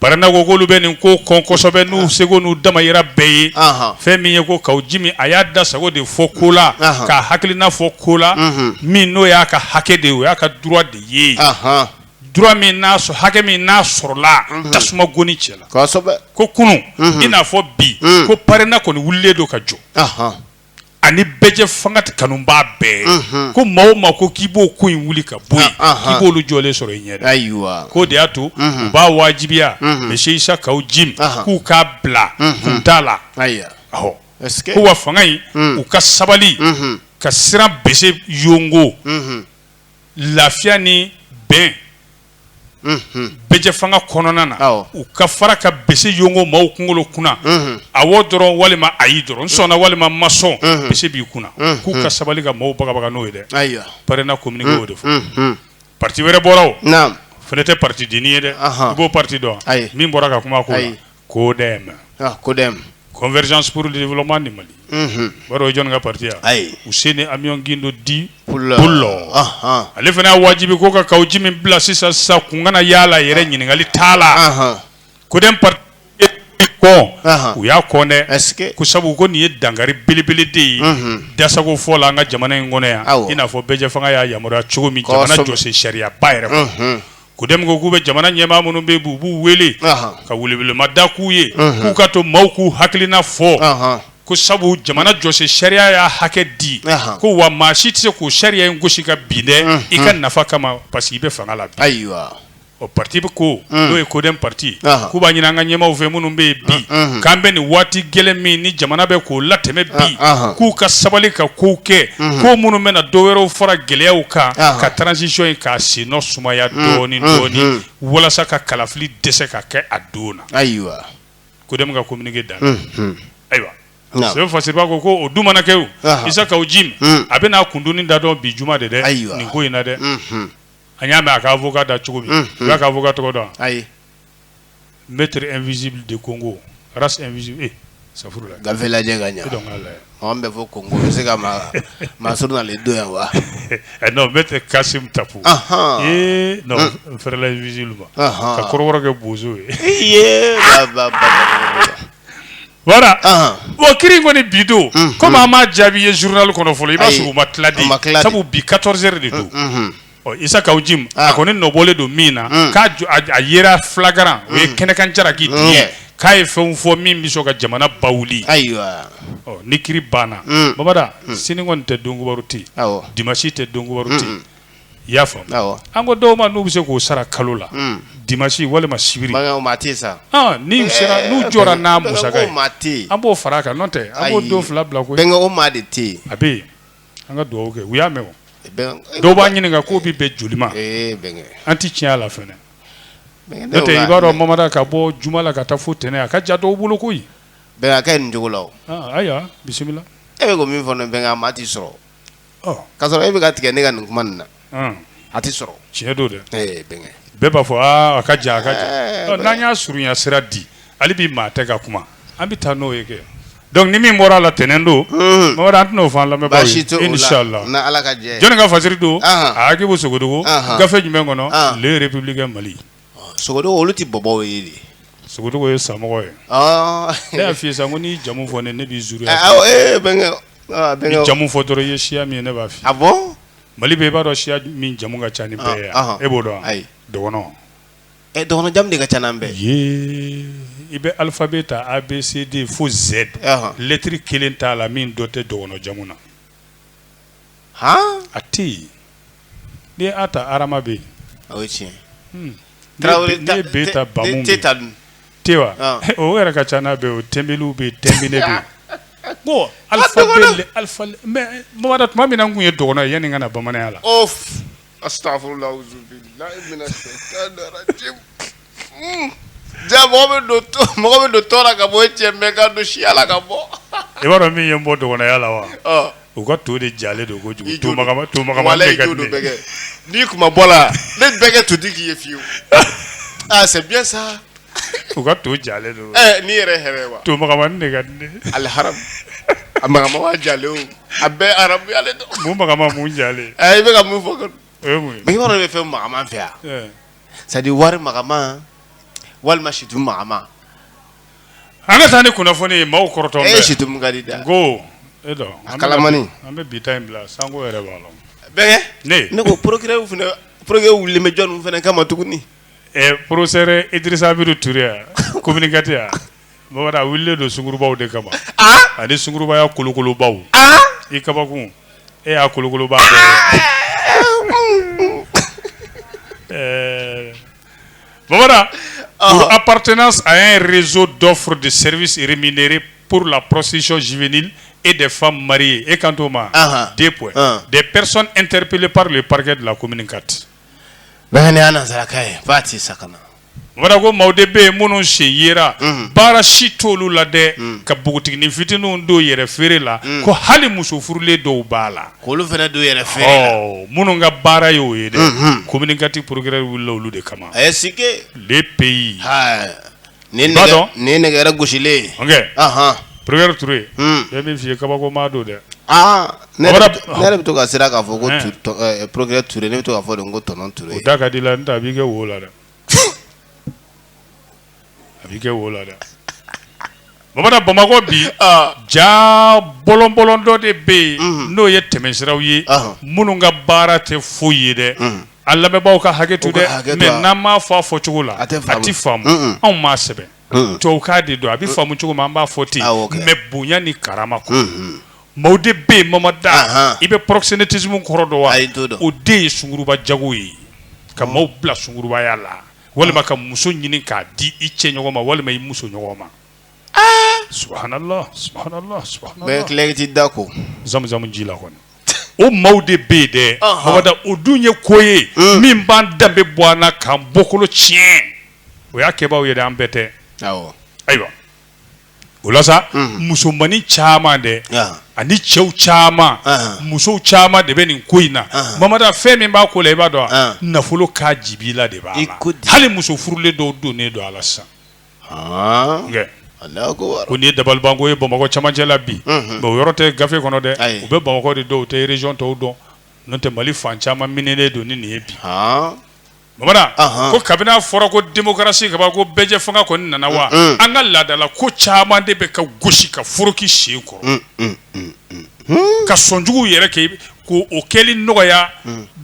S1: Parena ko k'olu bɛ nin ko kɔn kosɛbɛ n'u seko n'u damajira bɛɛ ye fɛn min ye ko kawu jim a y'a da sago de fɔ ko la k'a hakilina fɔ ko la min n'o y'a ka hakɛ de o y'a ka droit de ye hakɛ min n'a sɔrɔla tasuma goni cɛ la ko kunun i n'a fɔ bi ko parena kɔni wililen don ka jɔ ani bɛɛjɛ fanga kanubaa bɛɛ ko maa o maa ko k'i b'o ko in wuli ka bɔ k'i b'olu jɔlen sɔrɔ i ɲɛ ayiwa ko o de y'a to u b'a wajibiya mesiye isa kawu jim k'u k'a bila kun t'a la ko wa fanga in u ka sabali ka siran bɛsɛ yɔngɔ lafiya ni bɛn bɛɛjɛ fanga kɔnɔna na u ka fara ka bɛsɛ yɔngɔ maaw kunkolo kunna awɔ dɔrɔn walima ayi dɔrɔn sɔnna walima i ma sɔn bɛsɛ b'i kunna k'u ka sabali ka maaw bagabaga n'o ye dɛ ayiwa parena communiqué y'o de fɔ pati wɛrɛ bɔra o fana tɛ patidennin ye dɛ a b'o pati dɔn min bɔra ka kuma ko codem codem convergence pour le développement du mali o ye jɔnni ka pati ye ayi housseini amion guindo dit poulo ale fana y'a wajibiya ko ka kawu jim bila sisan sisan kun kana yaala a yɛrɛ ɲininkali t'a la codem pati ko u y'a kɔn dɛ ko sabu ko nin ye dankari belebele de ye dasago fɔ la an ka jamana in kɔnɔ yan i n'a fɔ bɛɛjɛ fanga y'a yamaruya cogo min jamana jɔsen sariyaba yɛrɛ codem ko k'u bɛ jamana ɲɛmaa minnu bɛ yen u b'u wele ka welewelema da k'u ye k'u ka to maaw k'u hakilina fɔ ko sabu jamana jɔsen sariya y'a hakɛ di ko wa maa si tɛ se k'o sariya in gosi ka bin dɛ i ka nafa kama parce que i bɛ fanga la ayiwa o pati bɛ ko n'o ye codem pati k'u b'a ɲini an ka ɲɛmaaw fɛ minnu bɛ yen bi k'an bɛ nin waati gɛlɛn min ni jamana bɛ k'o latɛmɛ bi k'u ka sabali ka kow kɛ ko minnu bɛ na dɔw wɛrɛw fara gɛlɛyaw kan ka transition in k'a senna sumaya mm, dɔɔni mm, dɔɔni mm. walasa ka kalafili dɛsɛ ka kɛ a don na ayiwa codem ka communiqué dan ayiwa sɛbɛn fasiriba ko ko o dun mana kɛ o isa kawu jim a bɛna kundonni da dɔn bi juma de dɛ nin ko in na dɛ an y'a mɛn a ka avocat da cogo min i b'a ka avocat tɔgɔ dɔn wa ayi maître invisible de congo sa gafe lajɛ ka ɲɛ an bɛ fɔ congo bɛ se ka maa sɔrɔ nana don yan wa non maître kassoum tapo ee n fɛrɛla invisible ma taa kɔrɔ kɛ bozo ye voilà o kiri kɔni bi don kɔmi an ma jaabi ye zurunali kɔnɔ fɔlɔ i b'a sɔrɔ u ma tila dɛ sabu bi quatorze heures de don Isa kawu jim a kɔni nɔbɔlen don min na k'a a ye flagrant o ye kɛnɛkan sariya tiɲɛ k'a ye fɛn fɔ min bɛ se ka jamana bawuli ayiwa ni kiri banna baba sini kɔni tɛ donkibaru tɛ dimasi tɛ donkibaru tɛ i y'a faamuya an ko dɔw ma n'u bɛ se k'o sara kalo la dimasi walima sibiri sa n'u jɔra n'a musaka ye an b'o fara a kan n'o tɛ an b'o don fila bila ko o maa de tɛ yen a bɛ yen An ka dugawu kɛ u y'a mɛn dɔw b'a ɲininka k'o bɛ bɛn joli ma an tɛ tiɲɛ la i b'a dɔn maa ka bɔ juma la ka taa fo tɛnɛn a ka jan dɔw bolo koyi b'a kɛ nin cogo la ayiwa bisimila e bɛ ko min fɔ bɛn' tɛ sɔrɔ k ka sɔrɔ e bɛ ka tigɛ ne ka nin kuma nin na a tɛ sɔrɔ tiɲɛ don dɛ bɛɛ b'a fɔ a ka jan a ka jan n'an y'a surunya sira di ale bɛ maa tɛ ka kuma an bɛ taa n'o ye kɛ donc ni min bɔra la tɛnɛn don mɔgɔ an tɛna o fɔ lamɛn inchallah jɔnni ka fasiri don a Agibu Sogodogo gafe jumɛn kɔnɔ Le Républicain Mali Sogodogo olu tɛ bɔbɔw ye dɛ Sogodogo ye samɔgɔ ye ne y'a f'i ye sa ko n'i jamu fɔ ne ne b'i jamu fɔ dɔrɔn i ye siya min ye ne b'a f'i ye Mali bɛ i b'a dɔn siya min jamu ka ca ni bɛɛ ye wa? E b'o dɔn wa? Ayi, dɔgɔnɔn, ɛ dɔgɔnɔn jamu de ka ca n'an bɛɛ ye, ee i bɛ alphabet ta A, B, C, D fo Z lɛtɛrɛ kelen t'a la min dɔ tɛ dɔgɔnɔn jamu na, han, a tɛ yen, n'i ye A ta Arama bɛ yen, o ye tiɲɛ ye, n'i ye B ta Bamu bɛ yen T wa Ɔn. o yɛrɛ ka ca n'a bɛɛ o tɛnbeliw bɛ yen tɛnbinɛ bɛ yen ko alifa dɔgɔnin. bɛle alifa mɛ mamada tuma min na n kun ye dɔgɔnɔ ye yanni n ka na bamananya la Of. Astagfirullah auzubillahi mina shaitani rajim. Mm. Ja mɔgɔ bɛ don tɔ- mɔgɔ bɛ don tɔn na ka bɔ e cɛ mɛ ka don siya la ka bɔ. i b'a dɔn min ye n bɔ dɔgɔnɔya la wa Ɔ, U ka to de ja don ko kojugu to n'i tun bɔ la ne bɛɛ to di k'i ye fiye aa sa u ka to ja don n'i yɛrɛ hɛrɛ wa to ali ha a ma ja a bɛɛ arabu ale mun ja i bɛka ka mun fɔ yɔrɔ bɛ fɛ ma fɛ yan sadi wari ma walima situ ma An ka taa ni kunnafoni ye maaw kɔrɔtɔ e si kadi da ko e kalamani an bɛ bi in bila sango yɛrɛ b'a la ne ko procureur procureur wililen bɛ jɔn fana kama tuguni ɛ procureur Idrisa Amidu Ture ya commune quatre ya bamanan wililen don sungurunbaw de kama ani sungurunbaya kolokolobaw i kabako e y'a kolokoloba Bamanan aptenas a ye rezo dɔ furu de se siri miniri purla psisizv e de fa mari e kan o ma de de pɛs n terirp peele parri ye pakɛ la ko mini kati sa ko maaw de bɛ yen minnu sen ye baara si t olu la dɛ ka npogotigi ni fitinin dɔw yɛrɛ feere la ko hali musof furulen dɔw b'a la Olu fana don yɛrɛ fɛ minnu ka baara y'o ye dɛ commune quatre procureur wilila olu de kama a ye si le peyi ni dɔn ni nɛgɛ gosilen procureur Touré bɛ min fɔ i ye kabako maa don dɛ aa ne yɛrɛ bɛ to ka siran k'a fɔ ko procureur Touré ne bɛ to k'a fɔ ko tonton Touré o da ka di la nka a b'i kɛ wo la dɛ a b'i kɛ wo la dɛ bamanan bamakɔ bi ja bɔlɔnbɔlɔn dɔ de bɛ yen n'o ye tɛmɛsiraw ye minnu ka baara tɛ foyi ye dɛ an lamɛnbaaw ka hakɛto dɛ mais n'an m'a fɔ a fɔ cogo la a tɛ faamu anw m'a sɛbɛn to k'a de don a bɛ faamu cogo ma an b'a fɔ ten mais bonya ni karama kɔ maaw de bɛ yen mama da i bɛ proxénétisme kɔrɔ dɔn wa o de ye sunguruba jago ye ka maaw bila sungurubaya la walima ka muso ɲini k'a di i cɛ ɲɔgɔn ma walima i muso ɲɔgɔn ma subhanallah subhanallah n bɛ n da ko zamuzamu ji la kɔni o maaw de bɛ yen dɛ mada o dun ye ko ye min b'an danbe bɔ an na k'an bɔkolo tiɲɛ o y'a kɛbaa ye dɛ an bɛɛ tɛ ayiwa o la sa musomannin caman dɛ ani cɛw caman musow caman de bɛ nin ko in na bamanan fɛn min b'a ko la i b'a dɔn nafolo ka dibi la de b'a ko hali muso furulen dɔw don ne don a la sisan ko nin ye dabalibanko ye bamakɔ camancɛ la bi mais o yɔrɔ tɛ gafe kɔnɔ dɛ u bɛ bamakɔ de dɔn u tɛ région tɔw dɔn n'o tɛ mali fan caman minɛnen don ni nin ye bi bamanan ko kabini a fɔra ko démocratie kaba ko bɛɛjɛ fanga kɔni nana wa an ka laadala ko caman de bɛ ka gosi ka foroki sen kɔrɔ ka sonjugu yɛrɛ kɛ ko o kɛli nɔgɔya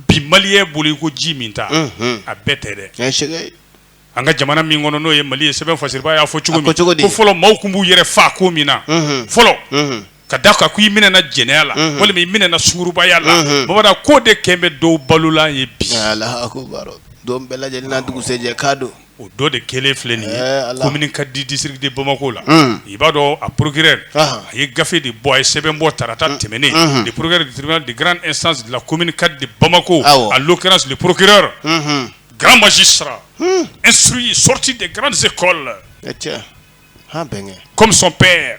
S1: bi maliyɛnw bolo i ko ji minta a bɛɛ tɛ dɛ an ka jamana min kɔnɔ n'o ye mali ye sɛbɛn fasiribaa y'a fɔ cogo min ko fɔlɔ maaw tun b'u yɛrɛ faa ko min na fɔlɔ ka da kan ko i minɛ na jɛnɛya la walima i minɛ na sugurubaya la bamanan ko de kɛlen bɛ dɔw balola ye bi don bɛɛ lajɛlen dugusɛjɛ ka don o dɔ de kelen filɛ nin ye ka di disiri de bamakɔ la i b'a dɔn a porourkɛ a ye gafe de bɔ a ye sɛbɛn bɔ taarata tɛmɛnen de porourkɛ de garan san ko ka di bamakɔ a lo kɛra siri porourkɛ garanbasi sara e su sɔti de garanransi kɔ la bɛn kɔmisɔn bɛɛ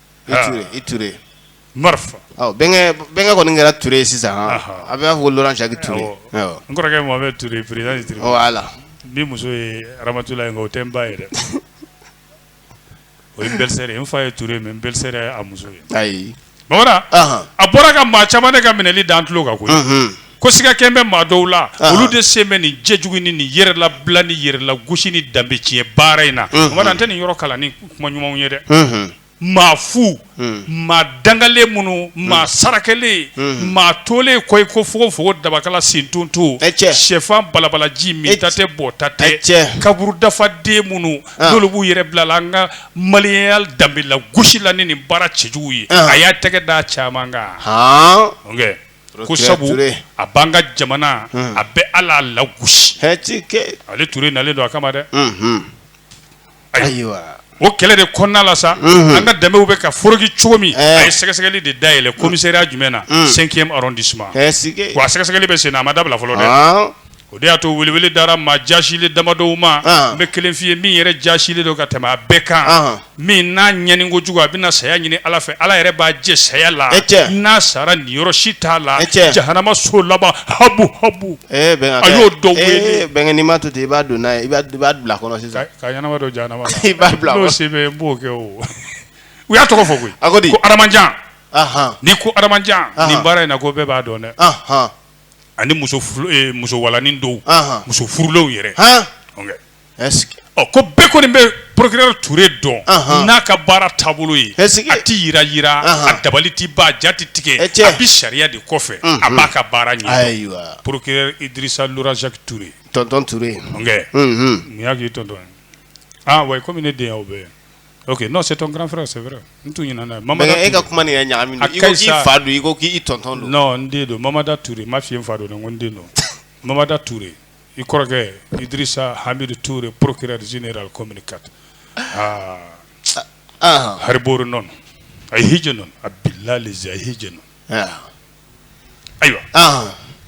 S1: bɛnkɛ kɔni kɛra Touré ye sisan a b'a fɔ la cɛ Touré n kɔrɔkɛ mɔgɔ bɛ Touré voilà n'i muso ye Aramatulayi nka o tɛ n ba ye dɛ o ye belle-sœur ye n fa ye Touré mais belle-sœur a muso ye ayi bamanan a bɔra ka maa caman de ka minɛli da an tulo kan koyi ko sigakɛ bɛ maa dɔw la olu de sen bɛ nin jɛ jugu ni ni yɛrɛla bila ni yɛrɛla gosi ni danbe tiɲɛ baara in na an tɛ nin yɔrɔ kalan ni kuma ɲumanw ye dɛ maa fu maa dangalen minnu maa sarakalen maa tolen koyi ko fo fo dabakala sentɔnon to shɛfan balabalaji min ta tɛ bɔ ta tɛ cɛ kaburu dafa den minnu dɔw b'u yɛrɛ bilala an ka maliya danbe lagosi la ni ni baara cɛjugu ye a y'a tɛgɛ da caman kan ko sabu a b'an ka jamana a bɛ ala lagosi ale Toure nalen don a kama dɛ ayiwa o kɛlɛ de kɔnɔna la sa an ka danbew bɛ ka foroki cogo min a ye sɛgɛsɛgɛli de da yɛlɛ komisariya jumɛn na cinquième arrondissement wa sɛgɛsɛgɛli bɛ sen na a ma dabila fɔlɔ dɛ O de y'a to welewele dara maa jasilen damadɔ ma n bɛ kelen f'i ye min yɛrɛ jasilen don ka tɛmɛ a bɛɛ kan min n'a ɲani ko jugu a bɛna na saya ɲini ala fɛ ala yɛrɛ b'a jɛ saya la n'a sara niyɔrɔ si t'a la jahanama so laban habu habu a y'o dɔn bɛnkɛma to i b'a don n'a i b'a bila kɔnɔ sisan k'a ɲɛnama don jahanama i b'a bila bɛ b'o kɛ o u y'a tɔgɔ fɔ koyi a ko di ko adamajan ni ko adamajan ni baara in na ko bɛɛ b'a dɔn dɛ ani muso muso gwananin dɔw muso furulenw yɛrɛ ɔ ko bɛɛ kɔni bɛ procureur Toure dɔn n'a ka baara taabolo ye a tɛ yi jira a dabali tɛ ba jate tigɛ e cɛ a bɛ sariya de kɔfɛ a b'a ka baara ɲɛ procureur Idirisa saki Toure tonton Toure mun y'a k'i tonton wa kɔmi ne de bɛ yan Ok non c'est ton grand frère c'est vrai n tun ɲinɛna ye Mamada Toure mais e ka kuma nin yɛrɛ ɲagaminen do i ko k'i fa do i ko k'i tonton do non n den do Mamada Toure n m'a f'i ye n fa do dɛ n ko n den do Mamada Toure i kɔrɔkɛ Idirisa Hamidu Toure procureur général commune 4 aa ahan Haribo Renon a ye hiji nɔn a bilali zi a ye hiji nɔn ayiwa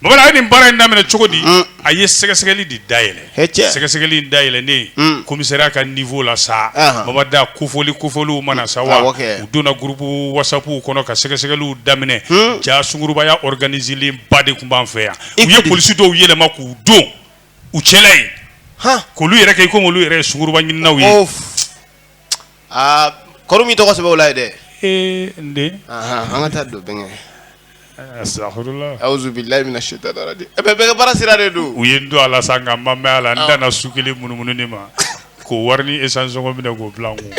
S1: baba da a ye nin baara in daminɛ cogo di mm. a ye sɛgɛsɛgɛli de da yɛlɛ sɛgɛsɛgɛli in da yɛlɛlen mm. komisariya ka nivo la sa baba da kofɔli kofɔliw ma na sa wa u donna gurupu wasapu kɔnɔ ka sɛgɛsɛgɛliw daminɛ mm. ja sungurubaya ɔriganizelen ba de tun b'an fɛ yan u ye polisi dɔw yɛlɛma k'u don u cɛla yen k'olu yɛrɛ kɛ i komi olu yɛrɛ ye sunguruba ɲininaw ye aa kɔri u m'i tɔgɔ sɛbɛn o la yen dɛ ee n den anhan an ka taa don bɛnkɛ asitafurula awuzubilahi mina setani arajimi ee bɛnkɛ baara sira de don u ye n don a la sa nka n ma mɛn a la n danna su kelen munumunu de ma k'o wari ni esansi sɔngɔ minɛ k'o bila n kun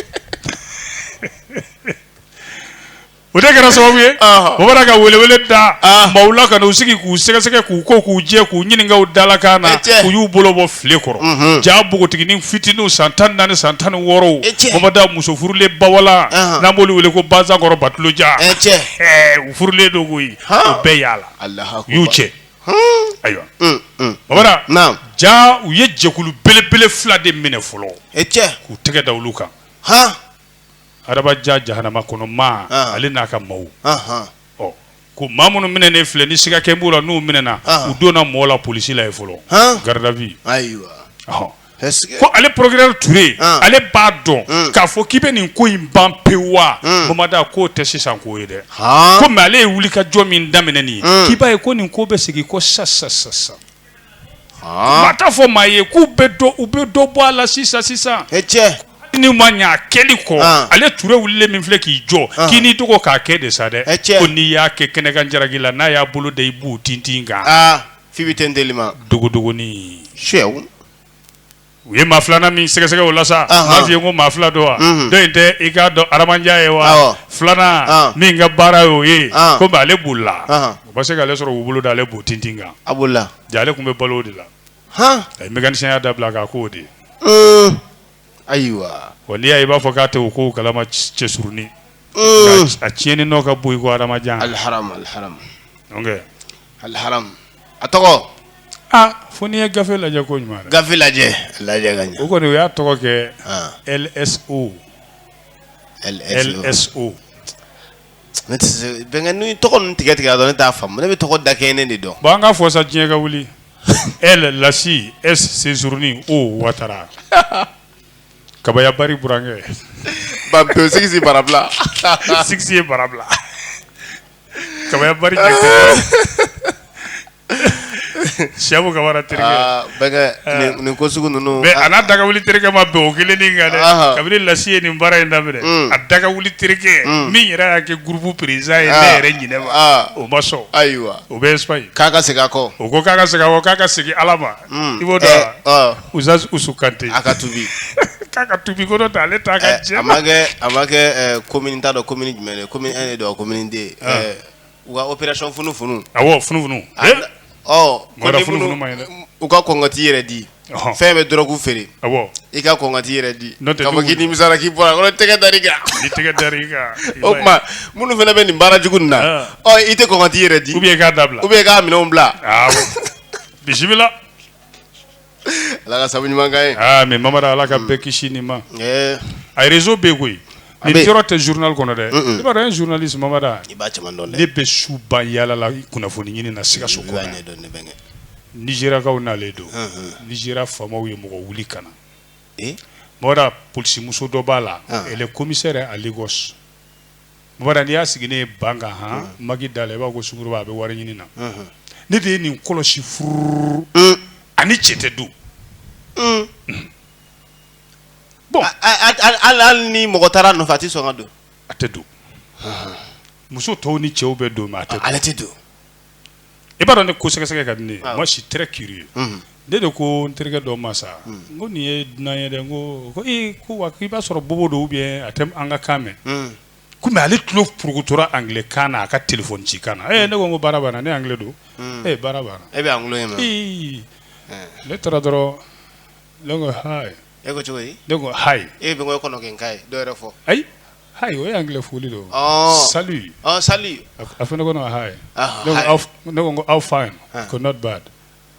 S1: O de kɛra sababu ye bamanan ka welewele da maaw la ka u sigi k'u sɛgɛsɛgɛ k'u ko k'u jɛ k'u ɲininka u dalakan na u y'u bolo bɔ filen kɔrɔ ja npogotiginin fitinin san tan naani san tan ni wɔɔrɔ da muso furulen b'a la n'an b' wele ko bakɔrɔ baja u furulen don bɛɛ y'a la u y'u cɛ ayiwa bamanan ja u ye jɛkulu belebele fila de minɛ fɔlɔ cɛ k'u tɛgɛ da olu kan Adama Ja jahanama kɔnɔ ma ale n'a ka maaw ɔ ko ma minnu minɛ ne filɛ ni siga kɛ b'u la n'u minɛɛna u donna mɔgɔ la polisi la yen fɔlɔ garde à vue ko ale procureur Ture ale b'a dɔn k'a fɔ k'i bɛ nin ko in ban pewu a mada k'o tɛ sisan ko ye dɛ komi ale ye wulikajɔ min daminɛ ye k'i b'a ye ko nin ko bɛ segin kɔ sa sa sa sa Ma taa fɔ maa ye k'u bɛ u bɛ dɔ bɔ a la sisan sisan ni ma ɲɛ kɛli kɔ ale Ture wulilen min filɛ k'i jɔ k'i n'i dogo k'a kɛ de sa dɛ cɛ n'i y'a kɛ kɛnɛkan jaraki la n'a y'a bolo da i bu tintin kan fi bɛ tɛ deli ma dogo dɔgɔnin su U ye maa filanan min sɛgɛsɛgɛ o la sa Ɔnhɔn. m'a f'i ye ko maa fila don wa Unhun. dɔ in tɛ i k'a dɔn Adama Ja ye wa Awɔ. filanan Ɔn. min ka baara y'o ye Ɔn. komi ale bolila Ɔnhɔn. u ma se k'ale sɔrɔ k'u bolo da ale bu tintin kan a bolila ja ale tun bɛ balo o de la han a ye mécanicienya dabila k'a k'o de ye un ayiwa wa n'i y'a ye i b'a fɔ k'a tɛ o kow kalama c- cɛsurunin un a tiɲɛni nɔ ka bon i ko Adama Ja alharam alharam donc alharam a tɔgɔ aa fo n'i ye gafe lajɛ ko ɲuman gafe lajɛ lajɛ ka o kɔni o y'a tɔgɔ kɛ lso lso ne bɛn n tɔgɔ ninnu tigɛ tigɛ dɔn ne t'a fa ne bɛ tɔgɔ da kɛ ne de dɔn an ka fɔsa diɲɛ ka wuli e Lasi e cɛsurunin o Watara kabayabari burankɛ ba sigi barabila sigi ye barabila Ka nin ko sugu ninnu a daga wuli terikɛ ma bɛn o kelen kan dɛ kabini Lasi ye nin baara in daminɛ a daga wuli terikɛ min yɛrɛ y'a kɛ groupe président ye ne yɛrɛ ɲɛ ma o ma sɔn ayiwa o bɛ k'a ka segin kɔ o ko k'a ka segin kɔ k'a ka segin ala ma i b'o dɔn Uzalisu ka a ka tubi k'a ka tubi ko ta ale ta ka a ma kɛ ko t'a dɔn ko jumɛn commune don koden u opération funu funu a funu u ka kɔnɔnkɔti yɛrɛ di f'i bɛ dɔrɔgu feere i ka kɔnɔnkati yɛrɛ di k'i nimisa k'i bɔra tɛgɛ da kan o tuma minnu fana bɛ nin baara jugu nin na i tɛ kɔnɔnkati yɛrɛ di u k'a dabila u k'a minɛn bila bisimila Ala ka sababu ɲuman k'an ye. Aa mais Mamara Ala ka bɛɛ kisi nin ma. Ɛɛ. A réseau bɛ yen koyi. A bɛ yen. Nin dɔrɔn tɛ journal kɔnɔ dɛ. Un un. I b'a dɔn an ye journaliste Mamara. I b'a caman dɔn dɛ. Ne bɛ su ban yaala la kunnafoni ɲini na Sikaso kɔnɔ yan. I b'a ɲɛdɔn ne bɛnkɛ. Nizeriyakaw nalen don. Un un. Nizeriya faamaw ye mɔgɔ wuli ka na. Ee. Mamara polisimuso dɔ b'a la. Ɔn. Elle est commissaire à Lagos. Mamara n y'a sigi ne ban hɔn ma da la i b'a ko sunguruba a bɛ wari ɲini na ne de ye nin kɔlɔsi furu a ni cɛ tɛ don bon la ni mɔgɔ taara nɔfɛ a tɛ sɔn ka don a tɛ don muso tɔw ni cɛw bɛ don mais ale tɛ don i b'a dɔn ne ko sɛgɛsɛgɛ ka di ne ye moi je suis très curieux ne de ko n terikɛ dɔ ma sa n ko nin ye dunan ye dɛ n ko ko ee ko wa k'i b'a sɔrɔ bobo don ou bien a tɛ an ka kan mɛn ko mais ale tulo purukutora anglais kan na a ka téléphone ci kan na ee ne ko n ko baara banna ni anglais don ee baara banna e bɛ anglais mɛn ii ne taara dɔrɔn ne ko hi e ko cogo di ne ko hi e bɛ n ko e kɔnɔ kɛ n ka ye dɔ yɛrɛ fɔ ayi Hi o ye anglais foli de ye o, ɔɔ, salut ɔɔ salut a fana ko ne ma hi, ɔhɔ, ne ko hi ne ko n ko how fine a ko not bad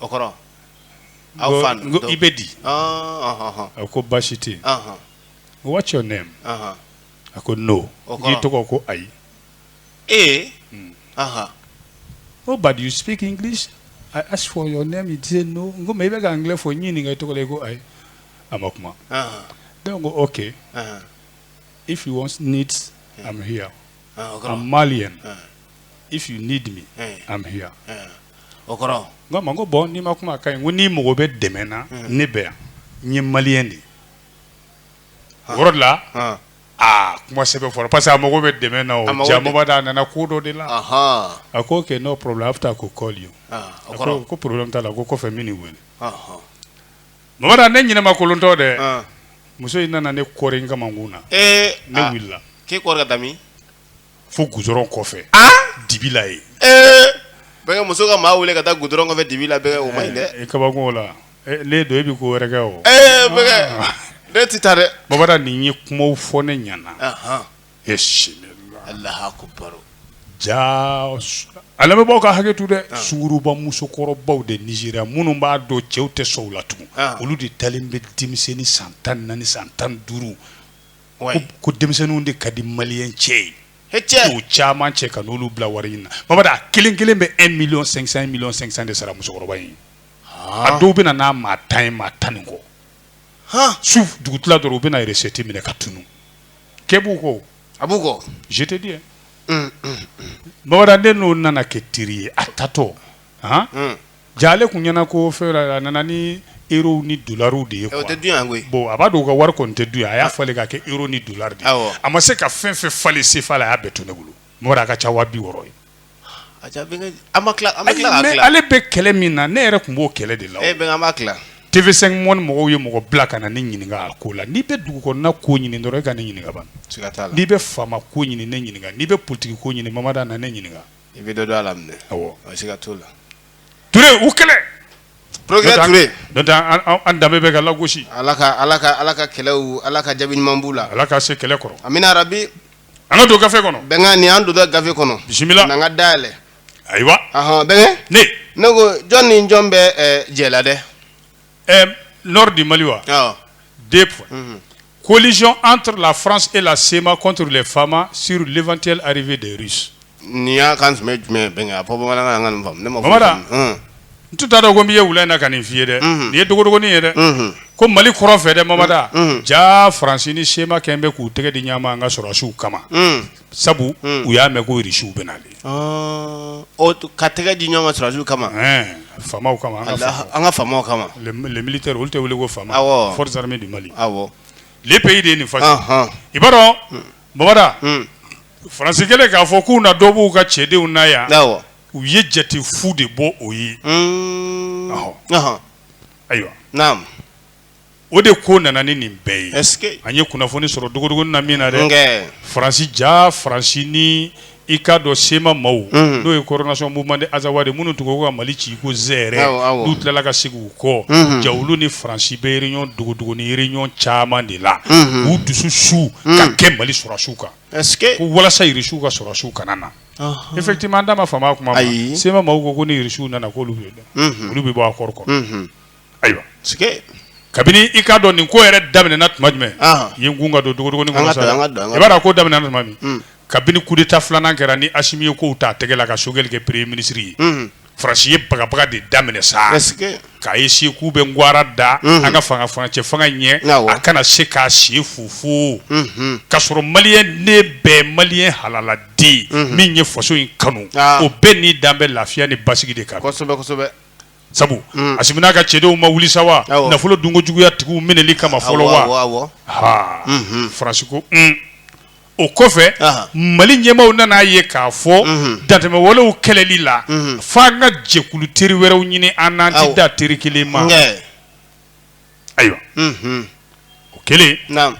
S1: o kɔrɔ how fine n ko i bɛ di, ɔɔ, a ko baasi tɛ yen, ɔhɔ, n ko what's your name ɔhɔ, a ko no o kɔrɔ, n k'i tɔgɔ ko ayi, ee, ɔhɔ, ko but you speak English I ask for your name you say no n ko mais i bɛ ka anglais fɔ n y'i ɲininka i tɔgɔ la i ko ayi a ma kuma, ɔhɔ, ne ko ok, ɔhɔ. if you want needs mm. i'm here uh, okay. i'm malian uh. if you need me uh. i'm here uh. o kɔrɔ n k'a ma ko bon n'i ma kuma a ka ɲi ko n'i mago bɛ dɛmɛ na hmm. ne bɛ yan n ye maliyɛn de ye o yɔrɔ de la a kuma sɛbɛ fɔra parce que a mago bɛ dɛmɛ na o jaa Mamara a nana ko dɔ de la a ko ok no problem after I go call you a ko ko problème t'a la ko kɔfɛ n bɛ n'i wele Mamara ne ɲɛnama kolonntɔn dɛ muso in nana ne kɔri n kamankun na ne wulila k'i kɔri ka taa min fo goudron kɔfɛ dibi la yen muso ka maa weele ka taa goudron kɔfɛ dibi la o ma ɲi dɛ kabako la ne don e bɛ ko wɛrɛ kɛ o ne tɛ taa dɛ Mamara nin ye kuma fɔ ne ɲana e ja ala bɛɛ baw ka hakɛ to dɛ sunguruba musokɔrɔbaw de Nizeriya minnu b'a dɔn cɛw tɛ sɔn u la tugun olu de taalen bɛ denmisɛnnin ni san tan naani san tan duuru ko denmisɛnninw de ka di maliyɛn cɛ ye u caman cɛ ka n'olu bila wari ɲini na Mamara kelen kelen bɛ un million cinq cent un million cinq cent de sara musokɔrɔba ye a dɔw bɛ na ni maa tan ye maa tan ni kɔ su dugu tila dɔrɔn u bɛna yɛrɛ sɛti minɛ ka tunun ke b'u ko a b'u kɔ jitedi ye bamananden n'o nana kɛ teri ye a tatɔ ja ale tun ɲɛna ko fɛ a nana ni ero ni dolariw de ye bɔn a b'a dɔn u ka wari kɔni tɛ dun yan a y'a falen k'a kɛ ero ni dolari a ma se ka fɛn fɛ falen sefa la a y'a bɛɛ to ne bolo mɔgɔ a ka ca waga bi wɔɔrɔ ye Ale bɛ kɛlɛ min na ne yɛrɛ tun b'o kɛlɛ de la TV5 Monde mɔgɔw ye mɔgɔ bila ka na ne ɲininka a ko la n'i bɛ dugu ko ɲini dɔrɔn i ka ne ɲininka n'i bɛ Fama ko ɲini ne ɲininka n'i bɛ politiki ko ɲini Mamada ne ɲininka i bɛ don la danbe bɛ ka lagosi ala ala ka kɛlɛ ala ka jaabi ɲuman la ala ka se kɛlɛ kɔrɔ An ka don gafe kɔnɔ. Bɛnkɛ nin y'an dontɔ gafe kɔnɔ. Bisimila! Nin y'an ka da yɛlɛ. Ayiwa! Ahan, Bɛnkɛ. Ne! Ne ko jɔn ni jɔn bɛ ɛɛ jɛ la dɛ? Ɛɛ nord du Mali wa? Awɔ. Deux points. Unhun. Collusion entre la France et la CMA contre les Fama sur l'éventuelle arrivée des Russes. Nin ye kan jumɛn jumɛn bɛn a fɔ bamanankan n k'a faamu mamada n tun t'a dɔn ko n'i ye wili in na ka nin f'i ye dɛ nin ye dogodogonin ye dɛ ko mali kɔrɔn fɛ dɛ mamada ja faransi ni sema kɛ bɛ k'u tɛgɛ di ɲɔgɔn ma an ka sɔrɔdasiw kama sabu u y'a mɛn ko irisiw bɛ nalen ka tɛgɛ di ɲɔgɔn ma sɔrɔdasiw kama fa kama an ka fa kama militaire olu bɛ wele ko fama forces armées du mali bɛ ye de nin fa i b'a dɔn mamada faransi kɛlen k'a fɔ k'u na dɔ b'u ka cɛdenw na yan u ye jate fu de bɔ o ye ayiwa o de ko nana ni nin bɛɛ ye an ye kunnafoni sɔrɔ dogodogonin na min na dɛ faransi ja faransi ni i k'a dɔn sema maaw Unhun. n'o ye coordination mouvement de azawadi minnu tun ko ka Mali ci i ko zɛrɛ Awɔ, awɔ. n'u tilala ka segin u kɔ Unhun. ja olu ni Faransi bɛ réunion dogodogonin réunion caman de la Unhun. k'u dusu su ka kɛ Mali sɔrɔdasiw kan est ce que ko walasa irisiw ka sɔrɔdasiw kana na Ɔnhɔn. effectivement an da ma fama a kuma ma Ayi. sema maaw ko ko ni irisiw nana k'olu bɛ Unhun. olu bɛ bɔ accord kɔnɔ Unhun. Ayiwa kabini i k'a dɔn nin ko yɛrɛ daminɛna tuma jumɛn ye an ka don dogodogonin i b'a dɔn ko daminɛna tuma min kabini kudeta filanan kɛra ni asimi ye kow ta tɛgɛ la ka sogɛli kɛ premier ministre ye faransi ye bagabaga de daminɛ sa k'a ye si k'u bɛ garan da an ka fanga furancɛ fanga ɲɛ a kana se k'a sen fofo ka sɔrɔ maliyɛn de bɛɛ maliyɛn halaladen min ye faso in kanu o bɛɛ ni dan bɛ lafiya ni basigi de kan sabu mm. asimi n'a ka cɛdenw ma wuli sa wa nafolo dunko juguya tigiw minɛli kama fɔlɔ wa ha mhm. faransi ko mm. o kɔfɛ mali ɲɛmaaw nan'a ye k'a fɔ mhm. dantɛmɛ walew kɛlɛli la mhm. f'an ka jɛkulu teri wɛrɛw ɲini ani an tɛ dan teri kelen ma Ayiwa o kɛlen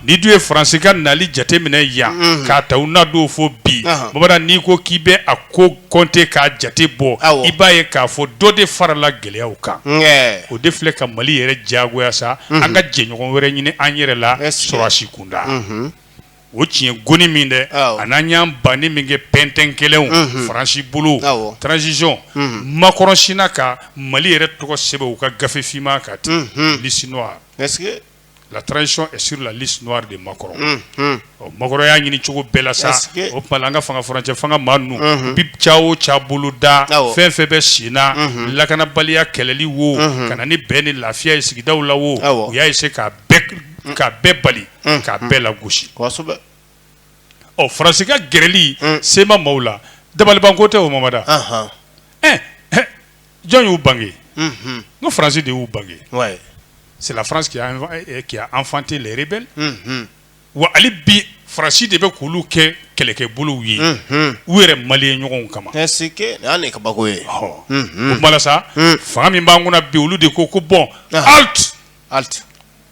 S1: n'i dun ye faransi ka nali jateminɛ yan k'a ta u na don fɔ bi bamanan n'i ko k'i bɛ a ko kɔnte k'a jate bɔ i b'a ye k'a fɔ dɔ de farala gɛlɛya kan o de filɛ ka mali yɛrɛ jagoya sa an ka jɛɲɔgɔn wɛrɛ ɲini an yɛrɛ la sɔrɔdasi kunda o tiɲɛ kɔni min dɛ a n'an y'an banni min kɛ ppɛnɛn kelen faransi bolo transition makɔrɔn sinna ka mali yɛrɛ tɔgɔ sɛbɛn u ka gafe finman kan liste noire la transition est sur la liste noire de Macron ɔ makɔrɔn y'a ɲini cogo bɛɛ la sa o tuma an ka fanga furancɛ fanga maa ninnu bi ca o ca boloda fɛn fɛn bɛ sen lakanabaliya kɛlɛli wo ka na ni bɛn ni lafiya ye sigida la wo u y'a se k'a k'a bɛɛ bali k'a bɛɛ lagosi ɔ faransi ka gɛrɛli CMA maaw la dabaliban ko tɛ o mamada jɔn y'u bange ko faransi de y'u bange c'est la France qui a enfanté les rebelles wa hali bi faransi de bɛ k'olu kɛ kɛlɛkɛ bolow ye u yɛrɛ malien ɲɔgɔn kama kaba ye sa fanga min b'an kunna bi olu de ko ko bon Halte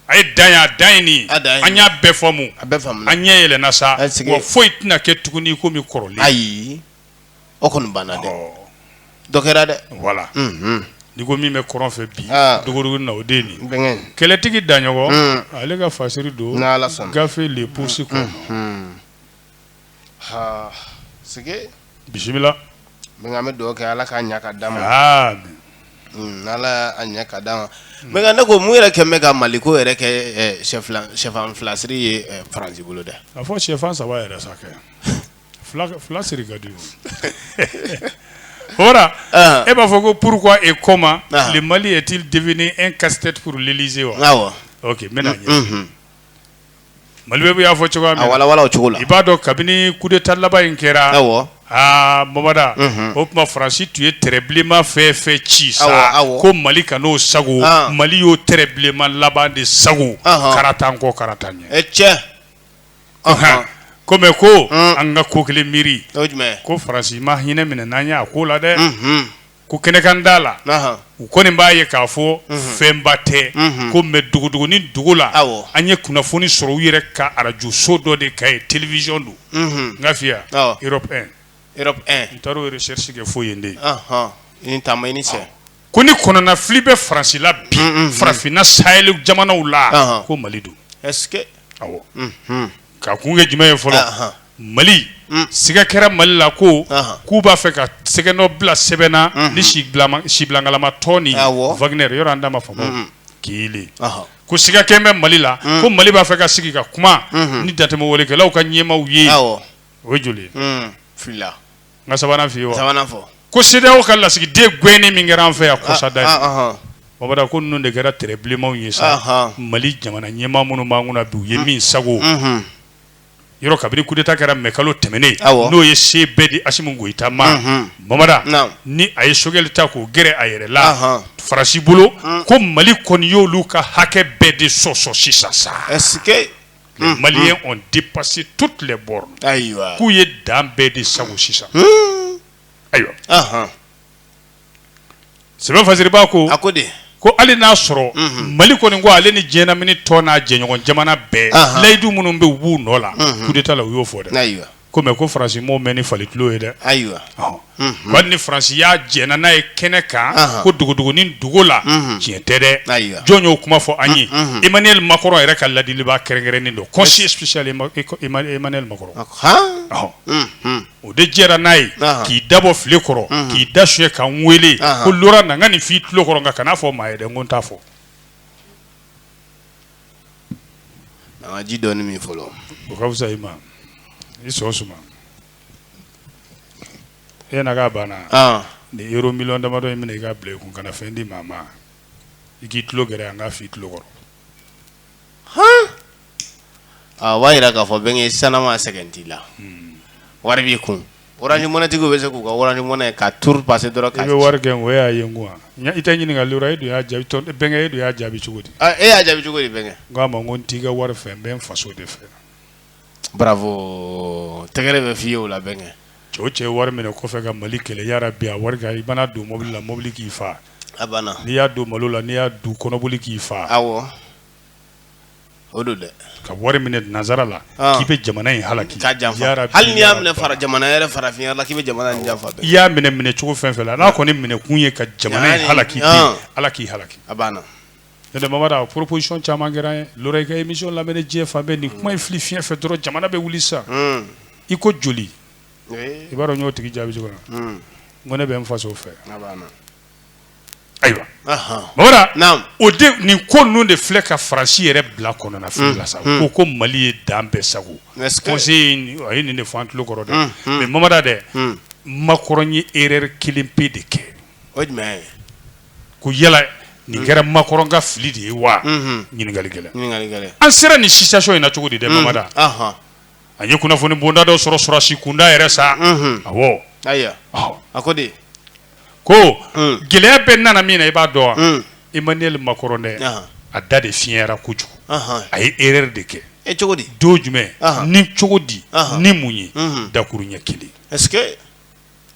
S1: a ye dan ye, a dan ye nin ye, a dan ye nin ye, an y'a bɛɛ faamu, a bɛɛ faamuna, an ɲɛ yɛlɛnna sa, an sigi, wa foyi tɛna kɛ tuguni i komi kɔrɔlen, ayi, o kɔni banna dɛ, ɔ, dɔ kɛra dɛ, voilà, unhun, n'i ko min bɛ kɔrɔn fɛ bi, aa, dogodogonin na o de ye nin ye, n bɛnkɛ, kɛlɛtigi Daɲɔgɔn, un, ale ka fasiri don, n'Ala sɔnna, gafe le poursuit quoi, unhun. si bisimila min bɛ dugawu kɛ ala k'a ɲɛ ka d'a ma ala ɲɛ ka d'a ma ne ko mun yɛrɛ kɛ bɛ ka mali ko yɛrɛ kɛ shɛfan fila siri ye faransi bolo dɛ a fɔ shɛfan saba yɛrɛ sa fila siri ka di ho e b'a fɔ ko pourquoi et comment le Mali est-il devenu un casse-tête pour l'Élysée wa mɛn Maliweb y'a fɔ cogoya na wawa cogo la i b'a dɔn kabini coup d'état laban in kɛra aa mada o tuma faransi tun ye trait bilenman fɛ fɛ ci sa ko mali kan'o sagon mali y'o trait bilenman laban de sagon karata kɔ karata ɲɛ c'est comme ko an ka ko kelen miiri ko faransi ma hinɛ minɛ n'an y' a ko la dɛ ko kɛnɛkanda la u kɔni b'a ye k'a fɔ fɛnba tɛ ko mais dogodogonin dogo la an ye kunnafoni sɔrɔ u yɛrɛ ka arajoso dɔ de ka ye télévision don n k'a fɔ ye Europe un n taara recherche kɛ fo yen de ko nin kɔnɔnafili bɛ faransi la bi farafinna saheli jamanaw la ko mali don Ka kun kɛ jumɛn ye fɔlɔ mali siga kɛra mali la ko k'u b'a fɛ ka tɛgɛnɔ bila sɛbɛn na ni sibilankalama tɔn in Wagner ye yɔrɔ d'a ma fa ke ko siga kɛ bɛ mali la ko mali b'a fɛ ka sigi ka kuma ni dantɛmɛwalekɛlaw ka ɲɛmaaw ye o joli N ka sabanan f'i ye wa? Sabanan fɔ. Ko CEDEAO ka lasigiden gɛnni min kɛra an fɛ yan kɔsada in. Ɔnhɔn. Bamada ko ninnu de kɛra tiiri bilenmanw ye sa. Ɔnhɔn. Mali jamana ɲɛmaa minnu b'an kunna bi u ye min sagon. Unhun. Yɔrɔ kabini coup d'Etat kɛra mai kalo tɛmɛnen. Awɔ. N'o ye se bɛɛ di Assimi Goita ma. Unhun. Bamada. Naamu. Ni a ye Choguel ta k'o gɛrɛ a yɛrɛ la. Ɔnhɔn. Faransi bolo. Un. Ko Mali kɔni y'olu ka hakɛ bɛɛ de sɔsɔ sisan sa. Est ce que. maliens ont dépassé toutes les bornes ayiwa k'u ye dan bɛɛ de sagon sisan ayiwa sɛbɛn fasiba ko a ko de ko hali n'a sɔrɔ mali kɔni ko ale ni diɲɛ lamini tɔn n'a jɛɲɔgɔn jamana bɛɛ layidu minnu bɛ u nɔ la coup d'Etat la u y'o fɔ dɛ ayiwa ko mɛ ko Faransi m'o mɛn ni fali tulo ye dɛ ayiwa wa ni Faransi y'a jɛ n'a ye kɛnɛ kan ko dugudugu ni dugu la tiɲɛ tɛ dɛ jɔn y'o kuma fɔ an ye Emmanuel Macron yɛrɛ ka ladilibaa kɛrɛnkɛrɛnnen dɔ conseiller spécial Emmanuel Macron o de jɛra n'a ye k'i da bɔ filen kɔrɔ k'i da su ye ka weele ko na ka nin f'i tulo kɔrɔ nka kan'a fɔ maa ye dɛ n ko n t'a fɔ An ka ji dɔɔnin min fɔlɔ o ka fisa i ma i sɔn suma e na banna ni euro million damadɔ in minɛ i k'a bila i kun kana fɛn di maa ma i k'i tulo gɛrɛ an k'a fɔ i tulo kɔrɔ a b'a jira k'a fɔ bɛnkɛ sanma sɛgɛn t'i la wari b'i kun orange money tigiw bɛ se k'u ka orange money ka tour passer dɔrɔn ka. I bɛ wari gɛn o y'a ye n kun wa? I tɛ ɲininkali yɔrɔ e dun y'a jaabi o bɛnkɛ e dun y'a jaabi cogo di? Aa e y'a jaabi cogo di bɛnkɛ? N k'a ma ko n t'i ka wari fɛ n bɛ n faso de fɛ. Bravo tɛgɛrɛ bɛ f'i ye o la bɛnkɛ. Cɛ o cɛ ye wari minɛ kɔfɛ ka Mali kɛlɛ yarabi a wari kɛ i man'a don mobili la mobili k'i faa. A banna. N'i y'a don malo la n'i y'a dun kɔnɔboli k'i faa. Awɔ. O don dɛ ka wari minɛ nansara la k'i bɛ jamana in halaki hali i y'a minɛ fara jamana yɛrɛ farafinya la k'i bɛ jamana janfa i y'a minɛ minɛ cogo fɛn fɛn la n'a kɔni minɛ kun ye ka jamana halaki ala k'i halaki a banna da proposition caman kɛra ye émission lamɛnna diɲɛ fan bɛɛ nin kuma in fili fiɲɛ fɛ dɔrɔn jamana bɛ wuli sa i ko joli i b'a dɔn n y'o tigi jaabi cogo na ko ne bɛ n faso fɛ ayiwa mamada o de nin ko ninnu de filɛ ka faransi yɛrɛ bila kɔnɔnafili la sa ko ko mali ye dan bɛɛ sago a ye nin de fɔ an tulo kɔrɔ dɛ mais mamada dɛ makɔrɔn ye erreur kelen pe de kɛ o ko yala nin kɛra makɔrɔn ka fili de ye wa ɲininkali kɛlen an sera ni situation in na cogo di dɛ mamada an ye kunnafoni bonba dɔ sɔrɔ sɔrɔdasi kunda yɛrɛ sa awɔ ko gɛlɛya bɛɛ nana min na i b'a dɔn wa emmanuel makɔrɔn dɛ a da de fiyɛnyara kojugu a ye erreur de kɛ e cogo di don jumɛn ni cogo di ni mun ye dakuruɲa kelen est-ce que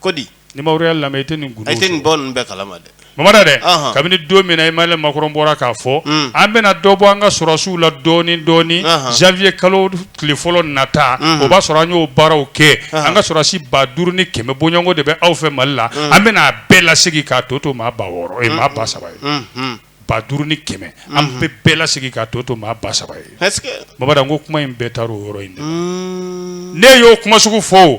S1: ko di ni ya lamɛn i tɛ nin e tɛ nin bɔ bɛɛ kala ma dɛ mamada dɛ kabini don min emmanuel makɔrɔn bɔra k'a fɔ an bɛna dɔ bɔ an ka sɔrɔdasiw la dɔɔnin dɔɔnin janvier kalo tile fɔlɔ nata o b'a sɔrɔ an y'o baaraw kɛ an ka sɔrɔdasi ba duuru ni kɛmɛ bɔɲɔgɔnko de bɛ aw fɛ mali la an bɛna a bɛɛ lase k'a tɔ to maa ba wɔɔrɔ ye maa ba saba ye ba duuru ni kɛmɛ an bɛ bɛɛ lase k'a tɔ to maa ba saba ye baba ko kuma in bɛɛ taa o yɔrɔ in ne y'o kuma sugu fɔ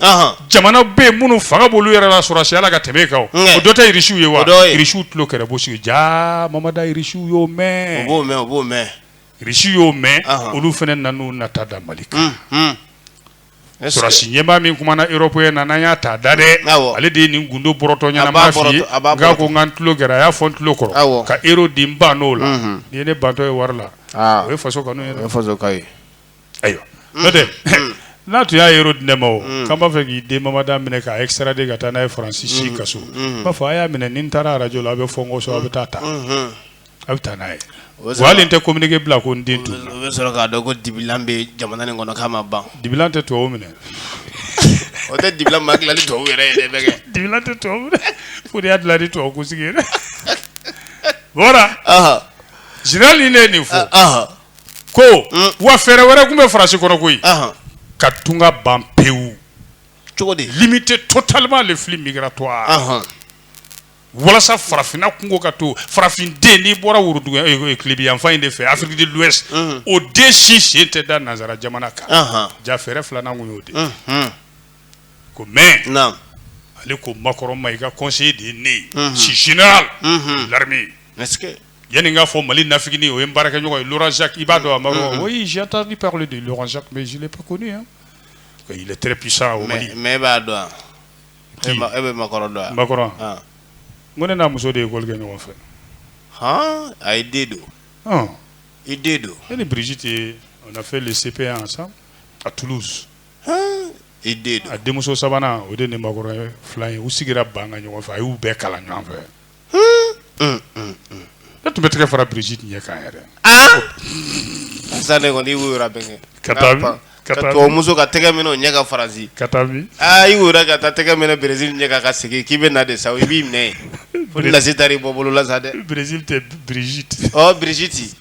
S1: jamana bɛ yen minnu fanga bolo yɛrɛ la sɔrɔdasiya la ka tɛmɛ kan o dɔ tɛ irisiw ye wa irisiw tulo kɛlɛ bo sigi ja mamada irisiw y'o mɛn mɛn russe y'o mɛn olu fana nana u nata da mali kan sɔrɔdasi ɲɛmaa min kumana europe ye nana y'a ta da dɛ ale de ye nin gundo bɔrɔtɔ ɲɛnama fɔ n ye a ko n ka tulo kɛra a y'a fɔ n tulo kɔrɔ ka euro di n bann'o la nin ye ne bantɔ ye wari la o ye fasokanu ye ayiwa n'o tɛ n'a tun y'a euro di ne ma o k'an b'a fɛ k'i den mamada minɛ k'a extrader ka taa n'a ye faransi si kaso n b'a fɔ a y'a minɛ ni n taara arajo la a bɛ fɔ n kɔ so a bɛ taa ta a bɛ taa n'a ye O bɛ wa hali n tɛ communiqué bila ko n den tun o bɛ sɔrɔ k'a dɔn ko dibilan bɛ jamana nin kɔnɔ k'a ma ban dibilan tɛ tubabu minɛ o tɛ dibilan ma dilan ni tubabu yɛrɛ ye dɛ bɛɛ kɛ dibilan tɛ tubabu minɛ fo de y'a dilan ni tubabu kunsigi ye dɛ voilà Ɔhɔ, général nin de ye nin fɔ ɔhɔ. ko mm. wa fɛɛrɛ wɛrɛ tun bɛ faransi kɔnɔ koyi ka tunga ban pewu cogo di limiter totalement les flux migratoires walasa farafinna kunko ka to farafinden n'i bɔra woroduguya eh, eh, tilebiyanfan in de fɛ afiriki de l'ouest mm. o den si sen tɛ da nansara jamana kan ja fɛɛrɛ filanan kun y'o de mm-hmm. ko mais ale ko makɔrɔ ma i ka conseiller de ye ne ye si général mm-hmm. l'armée Yanni n k'a fɔ Mali nafiginin o ye n baarakɛɲɔgɔn ye Laurent Jacques i b'a dɔn wa Mao? Un un. Oui j'ai entendu parler de Laurent Jacques mais je l'ai pas connu hein. Il est très puissant au Mali. Mais mais e b'a dɔn wa? Qui? E e bɛ makɔrɔ dɔn wa? Makɔrɔ? Ɔn. N ko ne n'a muso de ye école kɛ ɲɔgɔn fɛ. Han i den don. Ɔn. I den don. Ne ni Brigitte ye on a fait le CP1 ensemble à Toulouse. Han i den don. A denmuso sabanan o de ni makɔrɔ ye filan ye. U sigira banc kan ɲɔgɔn fɛ a y'u bɛɛ kalan ɲɔgɔn fɛ. E tun bɛ tɛgɛ fara Brigitte tun ye k'a yɛrɛ sa ne kɔni wo bɛn kɛ ka taa muso ka tɛgɛ minɛ o ɲɛ ka Faransi ka taa aa y' yɛrɛ ka taa tɛgɛ minɛ Brigitte ɲɛ ka ka segin k'i bɛ na de sa i b'i mɛn fo lase da i bɔ bolo la sa dɛ Brigitte Brigitte ɔ Brigitte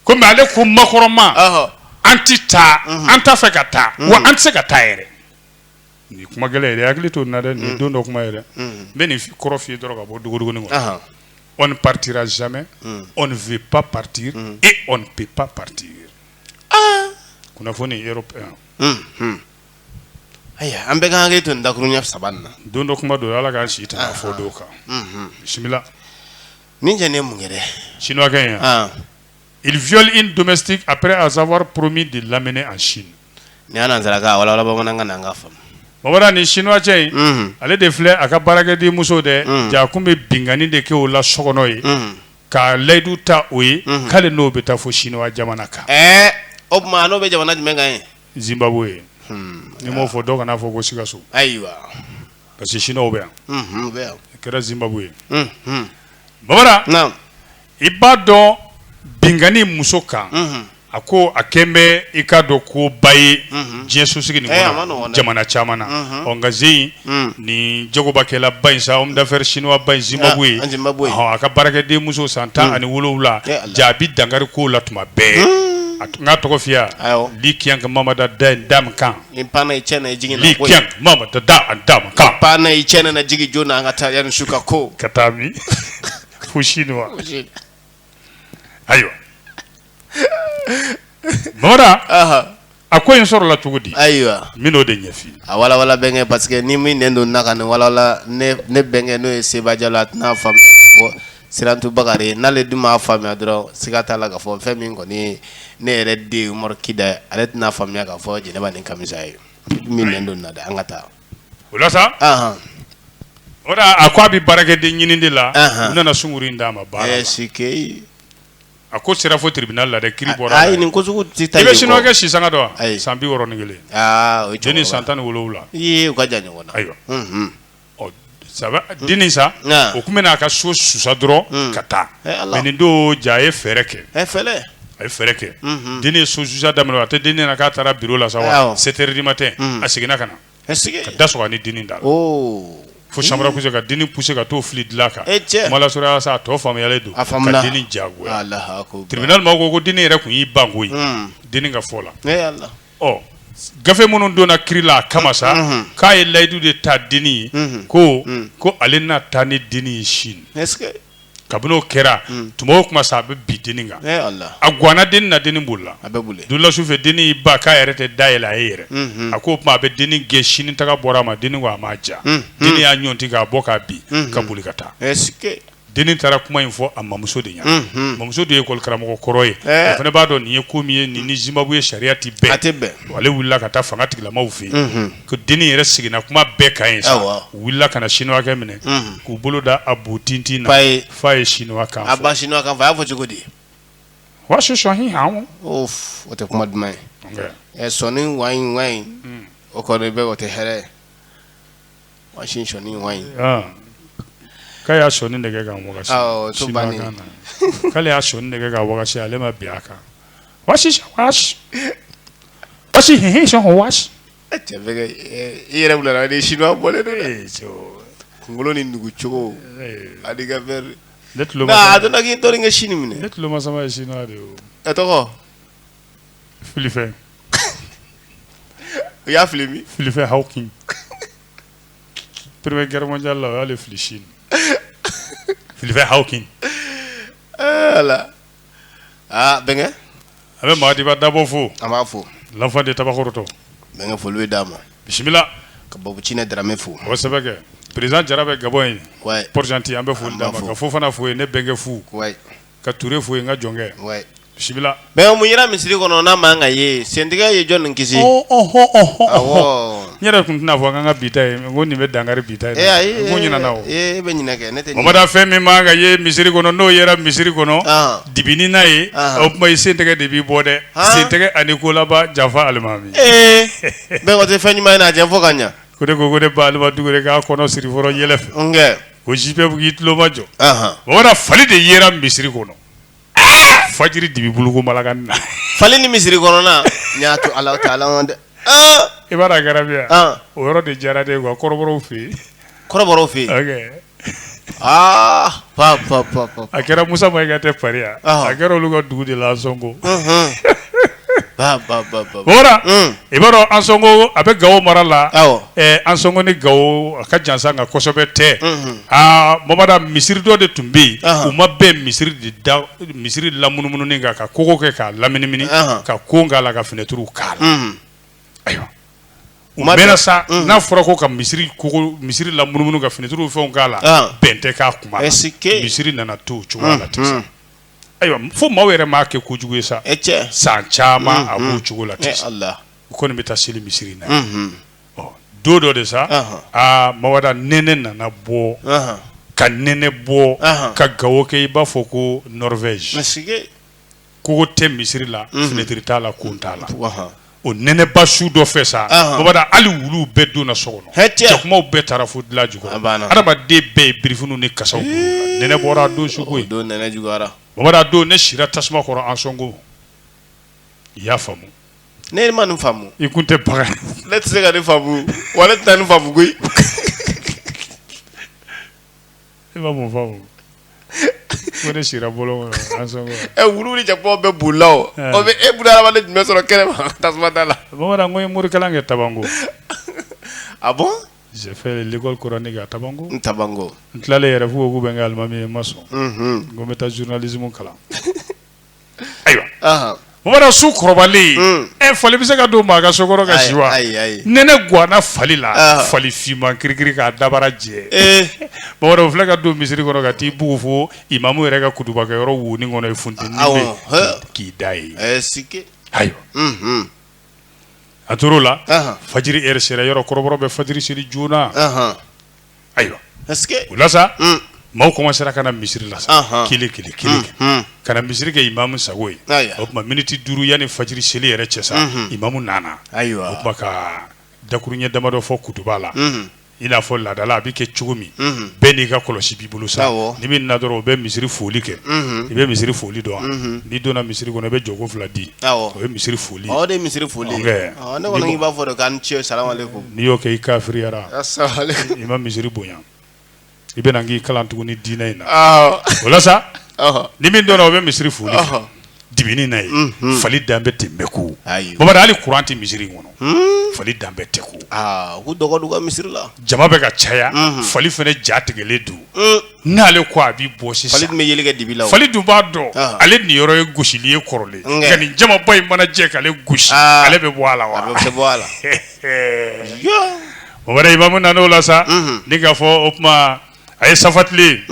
S1: kɔmi ale ko Macron ma an tɛ taa an t'a fɛ ka taa wa an tɛ se ka taa yɛrɛ Ni kuma gɛlɛn yɛrɛ hakili to na dɛ nin don dɔ kuma yɛrɛ n bɛ nin kɔrɔ f fi dɔrɔn ka bɔ dugu duguni wa on ne partira jamais on ne veut pas partir et on ne peut pas partir kunnafoni yɔrɔ yan ayiwa an bɛka an hakili to dakurunɲɛ saba na don dɔ kuma don ala k'an si taa a fɔ don kan bisimila ni tɛ ne mun yɛrɛ sinuwakɛ in yan il viole une domestique après avoir promis de l'amener en Chine n'i y'a nansarakan walawala bamanankan na k'a faamu bamanan nin sinuwa cɛ in mhm. ale de filɛ a ka baarakɛden muso dɛ mhm. ja a kun bɛ binkanni de kɛ o la sokɔnɔ ye mhm. ka layidu ta o ye k'ale n'o bɛ taa fo sinuwa jamana kan ɛɛ o tuma n'o bɛ jamana jumɛn kan ye zimbabwe hmm. n'i m'o fɔ dɔw kan'a fɔ ko sikaso ayiwa parce que sinuwaw bɛ yan u bɛ yan kɛra zimbabwe ye bamanan i b'a dɔn binkanni muso kan a ko a kɛlen bɛ i k'a dɔn koba ye diɲɛ sosigi nin jamana caman na ɔ nka zen in ni jagobakɛla ba in sa homme d'affaires sinuwa ba in zimbabwe a ka baarakɛden muso san tan ani wolowula ja a bɛ dankari k'o la tuma bɛɛ a tun ka tɔgɔ fiya di kɛ mamada da da kan da da kan jigij an ka taa su ka ko ka taa kushindwa ayiwa mamada aha a ko in sɔrɔla cogo di ayiwa n bɛn'o de ɲɛf'i ye a walawala bɛnkɛ parce que ni min nɛn don na ka nin walawala ne ne bɛnkɛ n'o ye Seba Jalo a tɛn'a faamuya k'a fɔ Sirantu Bakari ye n'ale dun m'a faamuya dɔrɔn siga t'a la k'a fɔ fɛn min kɔni ye ne yɛrɛ den Umaru Kida ye ale tɛn'a faamuya k'a fɔ Jɛnɛba ni Kamisa ye min nɛn don na dɛ an ka taa o la sa o a ko a bɛ baarakɛden ɲinin de la u nana sungurun d'a ma barisa a ko sera fo tribunal la dɛ kiiri bɔra nin bɛ sinuwakɛ si sanga dɔn a san bi wɔɔrɔ ni kelen dennin san tan ni wolo wolonwula ka jan ɲɔgɔn ayiwa sabu dennin sa o tun bɛ na a ka so susa dɔrɔn ka taa mɛ nin don ja a ye fɛɛrɛ kɛ a ye fɛɛrɛ kɛ dennin ye so susa daminɛ a tɛ dennin na k'a taara biro la sa sept heures du matin a seginna ka na ka da sɔgɔ a ni dennin da la fo chambre à coucher ka dennin pousser ka t'o fili dilan kan sɔrɔ sa a tɔ faamuyalen don ka dennin jagoya tribunal ma ko ko dennin yɛrɛ tun y'i ban k'o ye dennin ka fɔ la ɔ gafe minnu donna kiri la a kama sa Unhun. k'a ye layidu de ta denni ye Unhun. ko Mm. ko ale na taa ni denni ye sini Est-ce que kabini o kɛra tuma o tuma sa a bɛ bin denni kan eh Allah a gwanna denni na denni bolila a bɛ boli dula su fɛ denni y'i ban k'a yɛrɛ tɛ da yɛlɛ a ye yɛrɛ Mhm. a ko o tuma a bɛ denni gɛn sini taga bɔra a ma denni ko a m'a ja Mhm. denni y'a ɲɔnti k'a bɔ k'a bin ka boli ka taa est-ce que denni taara kuma in fɔ a mamuso de ye a mamuso de ye ekɔlikaramɔgɔ kɔrɔ ye a fana b'a dɔn nin ye ko min ye nin ni Zimbabwe sariya tɛ bɛn ale wulila ka taa fanga tigilamaw fɛ yen ko dennin yɛrɛ seginna kuma bɛɛ kan yen sa u wulila ka na siniwakɛ minɛ k'u bolo da a bon tintin na ye fa ye siniwa y'a fɔ cogo di o tɛ kuma duman ye sɔ in wa in o kɔrɔ bɛ o tɛ hɛrɛ ye Sɔi ka y'a sɔi nɛgɛ ka k'ale y'a sɔi nɛgɛ ka ale ma bi a kan i yɛrɛ kunkolo ni dugucogo a kɛ sini minɛ tuloloma tɔgɔ fili fɛ u y'a fili min fili fɛ haw kin première guerre mondiale la o y'ale fili si fili fɛ haw kin ala aa bɛnkɛ an bɛ Maadiba Dabo fo an b'a fo lanfa de tabakɔrɔtɔ bɛnkɛ foli bɛ d'a ma bisimila ka babu cinɛ daramɛ fo o sɛbɛ kɛ président Jara bɛ Gabon yen wayi Port-Gentil an bɛ foli d'a ma. ka Fofana fo yen ne bɛnkɛ fo wayi ka Ture fo yen n ka jɔnkɛ, wɛ, bisimila, bɛnkɛ mun yera misiri kɔnɔ n'a man kan ka ye sentigɛ ye jɔn nin kisi, ɔɔ, ɔhɔ, ɔhɔ, awɔ, n yɛrɛ tun tɛna fɔ k'an ka bi ta ye ko nin bɛ dankari bi ta in ee na, ayi, n ko ɲinɛna o, ee e bɛ ɲinɛ kɛ ne tɛ ɲinɛ, o ma da fɛn min man kan ka ye misiri kɔnɔ n'o yera misiri kɔnɔ, ɔn, dibi ni na ye, ɔn, o tuma i sentigɛ de b'i bɔ dɛ, han, sentigɛ ani kolaba yafa alimami, ee, bɛnkɛ o tɛ fɛn ɲuman ye n'a ɲɛfɔ ka ɲɛ, ko ne ko ko ne ba Alima Dukure k'a kɔnɔ siri fɔlɔ yɛlɛ fɛ, n kɛ ko ji bɛɛ b'i tulomajɔ o fali de yera misiri kɔnɔ fajiri dibi bolo bala na fali ni misiri kɔnɔna y'a to Alahutaala ka dɛ i b'a gɛrɛya o yɔrɔ de jara de wa kɔrɔbɔrɔ fɛ yen kɔrɔbɔrɔ fɛ yen aa pa a kɛra Musa Mayiga de fɛ a kɛra olu ka dugu de la Ansɔngɔ Ba ba ba ba. O la Un. i b'a dɔn Ansɔngɔ a bɛ Gawo mara la. Awɔ. Ɛɛ Ansɔngɔ ni Gawo a ka jan sa nka kosɛbɛ tɛ. Unhun. Aa Bamada misiri dɔ de tun bɛ yen. Ahan. U ma bɛn misiri de da misiri lamunumununi kan ka kogo kɛ k'a laminimini Ahan. ka kon k'a la ka fenɛtiriw k'a la. Unhun. Ayiwa. U ma mɛnna bɛn. sa Unhun. n'a fɔra ko ka misiri kogo misiri lamunumunu ka fenɛtiriw fɛnw k'a la Ahan. bɛn tɛ k'a kuma la. Est-ce que- Misiri nana to o cogoya la ten sa. Unhun. Ayiwa fo maaw yɛrɛ m'a kɛ ko jugu ye sa e cɛ san caman a b'o cogo la de u kɔni bɛ taa seli misiri na don dɔ de sa aa Bamada nɛnɛ nana bɔ ka nɛnɛ bɔ ka Gawo kɛ i b'a fɔ ko Norvège kogo tɛ misiri la finɛtiri t'a la kon t'a la o nɛnɛba su dɔ fɛ sa Ɔnhɔn. Bamada hali wuluw bɛɛ donna so kɔnɔ Hɛ, tiɲɛ. jakumaw bɛɛ taara fo dilan jukɔrɔ A banna. adamaden bɛɛ ye birifiniw ni kasaw kuru la. nɛnɛ bɔra o don su o koyi don nɛnɛ juguyara Bamada o don ne sira tasuma kɔrɔ Ansongo i y'a faamu ne ma nin faamu i kun tɛ bagan ne tɛ se ka nin faamu wa ne tɛna nin faamu koyi e ma mun faamu ko ne sira bɔlɔn kɔnɔ Ansongo. ɛ wulu ni jakuma bɛɛ bolila o Ɛɛ. o bɛ e bɛna hadamaden jumɛn sɔrɔ kɛnɛ ma tasuma da la Bamada ko n ye morikalan kɛ Tabango ah bon j'ai fait l'école coranique à Tabango n Tabango n tilalen yɛrɛ f'u ko k'u bɛ n kɛ alimami ye n ma sɔn unhun ko n bɛ taa journalisme kalan Ayiwa Bamada su kɔrɔbalen e fali bɛ se ka don maa ka so kɔnɔ ka si wa nɛnɛ ganna fali la fali finman kirikiri k'a dabara jɛ Bamada filɛ ka don misiri kɔnɔ ka t'i bugu fo imamu yɛrɛ ka kutubakɛ yɔrɔ wonin kɔnɔ ye funteni ye k'i da yen ayiwa an tora o la fajiri sera yɔrɔ kɔrɔbɔrɔ bɛ fajiri seli joona ayiwa o la sa maaw kɔmansera ka na misiri la sa kelen kelen ka na misiri kɛ imamu sagogo ye o tuma miniti duuru yanni fajiri seli yɛrɛ cɛ sa imamu nana ayiwa o ka dakuruɲɛ damadɔ fɔ kutuba la i n'a fɔ laada la a bɛ kɛ cogo min bɛɛ n'i ka kɔlɔsi b'i bolo sa ni min nana dɔrɔn o bɛ misiri foli kɛ i bɛ misiri foli dɔn n'i donna misiri kɔnɔ i bɛ jɔko fila di o ye misiri foli misiri foli b'a fɔ cɛ n'i y'o kɛ i kafiriyara, a sahale, i ma misiri bonya i bɛna n kalan tuguni diinɛ in na, awɔ, o la sa, ɔhɔ, ni min donna o bɛ misiri foli kɛ, ɔhɔ, dibi in na yen, unhun, fali dalen bɛ ten bɛɛ ko, ayi, Bamada hali kuran tɛ misiri in kɔnɔ, hun, fali dalen bɛ ten ko, aa u k'u dɔgɔ don u ka misiri la, jama bɛ ka caya, unhun, fali fana ja tigɛlen don, un, n'ale ko a bɛ bɔ sisan, fali dun bɛ yeli kɛ dibi la o, fali dun b'a dɔn, ɔhɔ, ale niyɔrɔ ye gosili ye kɔrɔlen, nka, nka ni jamaba in mana jɛ k'ale gosi, aa, ale bɛ bɔ a la wa, a bɛ bɔ a la o wɛrɛ imamu nana o la sa nin k'a fɔ o tuma a ye safa tilen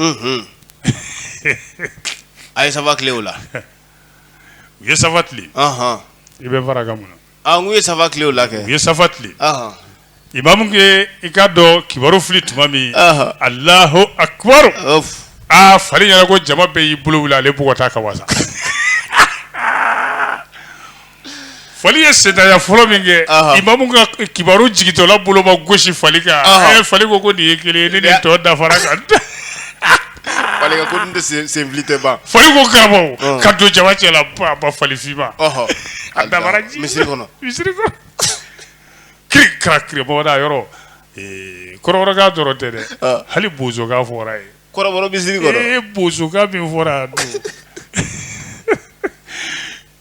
S1: a ye safa tilen o la u ye safa tilen i bɛ fara ka mun a ye safa tilen o la kɛ u ye safa tilen imamu ye i ka takibiru fili tuma min Allahu akibaru aa fali ɲɛna ko jama bɛɛ y'i bolo wuli ale bugɔ ka wa Fali ye senya fɔlɔ min kɛ imamu ka kibaru jigitɔla boloba gosi fali kan a ye fali ko ko nin ye kelen ne tɔ dafara kan tɛ ban fali ko karamɔgɔ ka don jama cɛ ba falifinma a dafa misiri kɔnɔ misiri kiribɔda yɔrɔ kɔrɔbɔrɔkan dɔrɔn tɛ dɛ hali bosokan fɔra yen koyi bosokan min fɔra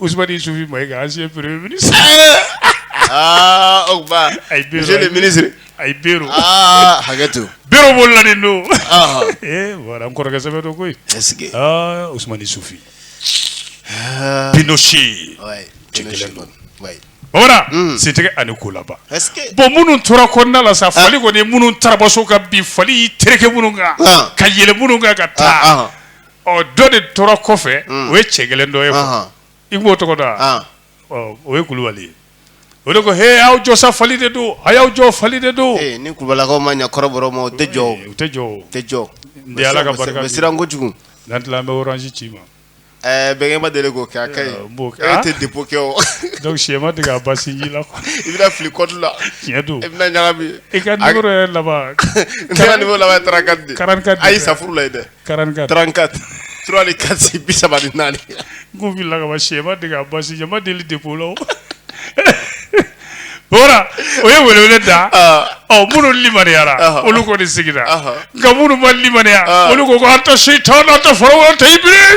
S1: Ousmane Issoufi Maïga ancien premier ministre aa o tuma ayi Bero monsieur le ministre ayi Bero aa hakɛ to Bero bolila nin don aa ee voilà n kɔrɔkɛ sɛbɛn don koyi est-ce que aa Ousmane Issoufi aa Pinochet ouais Cɛ kelen don. ouais Bamana Mm. sentigɛ ani kolaba est-ce que bon minnu tora kɔnɔna la sa fali kɔni ye minnu tarabaso ka bi fali y'i tereke minnu kan Ah. ka yɛlɛ minnu kan ka taa ah ɔ dɔ de tora kɔfɛ mm. o ye cɛ gɛlɛn dɔ ye quoi i b'o tɔgɔ dɔn wa ɔ o ye kulubali ye o de ko he aw jɔ sa fali de don a y'aw jɔ fali de don eh, ni kulubalilakaw ma ɲa kɔrɔbɔrɔ ma o tɛ jɔ o eh, tɛ jɔ o tɛ jɔ n tɛ ala ka barika bɛ siran kojugu n'an tila an bɛ orange ci ma ɛɛ eh, bɛnkɛ ma deli k'o kɛ a ka ɲi n b'o kɛ e tɛ depo kɛ o donc cɛ ma dege a basi ji la quoi i bɛna fili kɔdu la tiɲɛ don i bɛna ɲagami i ka numéro yɛrɛ laban ne ka numéro laban ye 34 de 44 ayi safuru la ye dɛ 44 34 3 ni 4 c'est 34 n k'u filila ka ban cɛ ma dege a basi ɲɛ ma deli depo la o voilà o ye welewele da ɔ minnu limaniyara olu kɔni sigira nka minnu ma limaniya olu ko ko anta seytan anta firawuna anta ibiri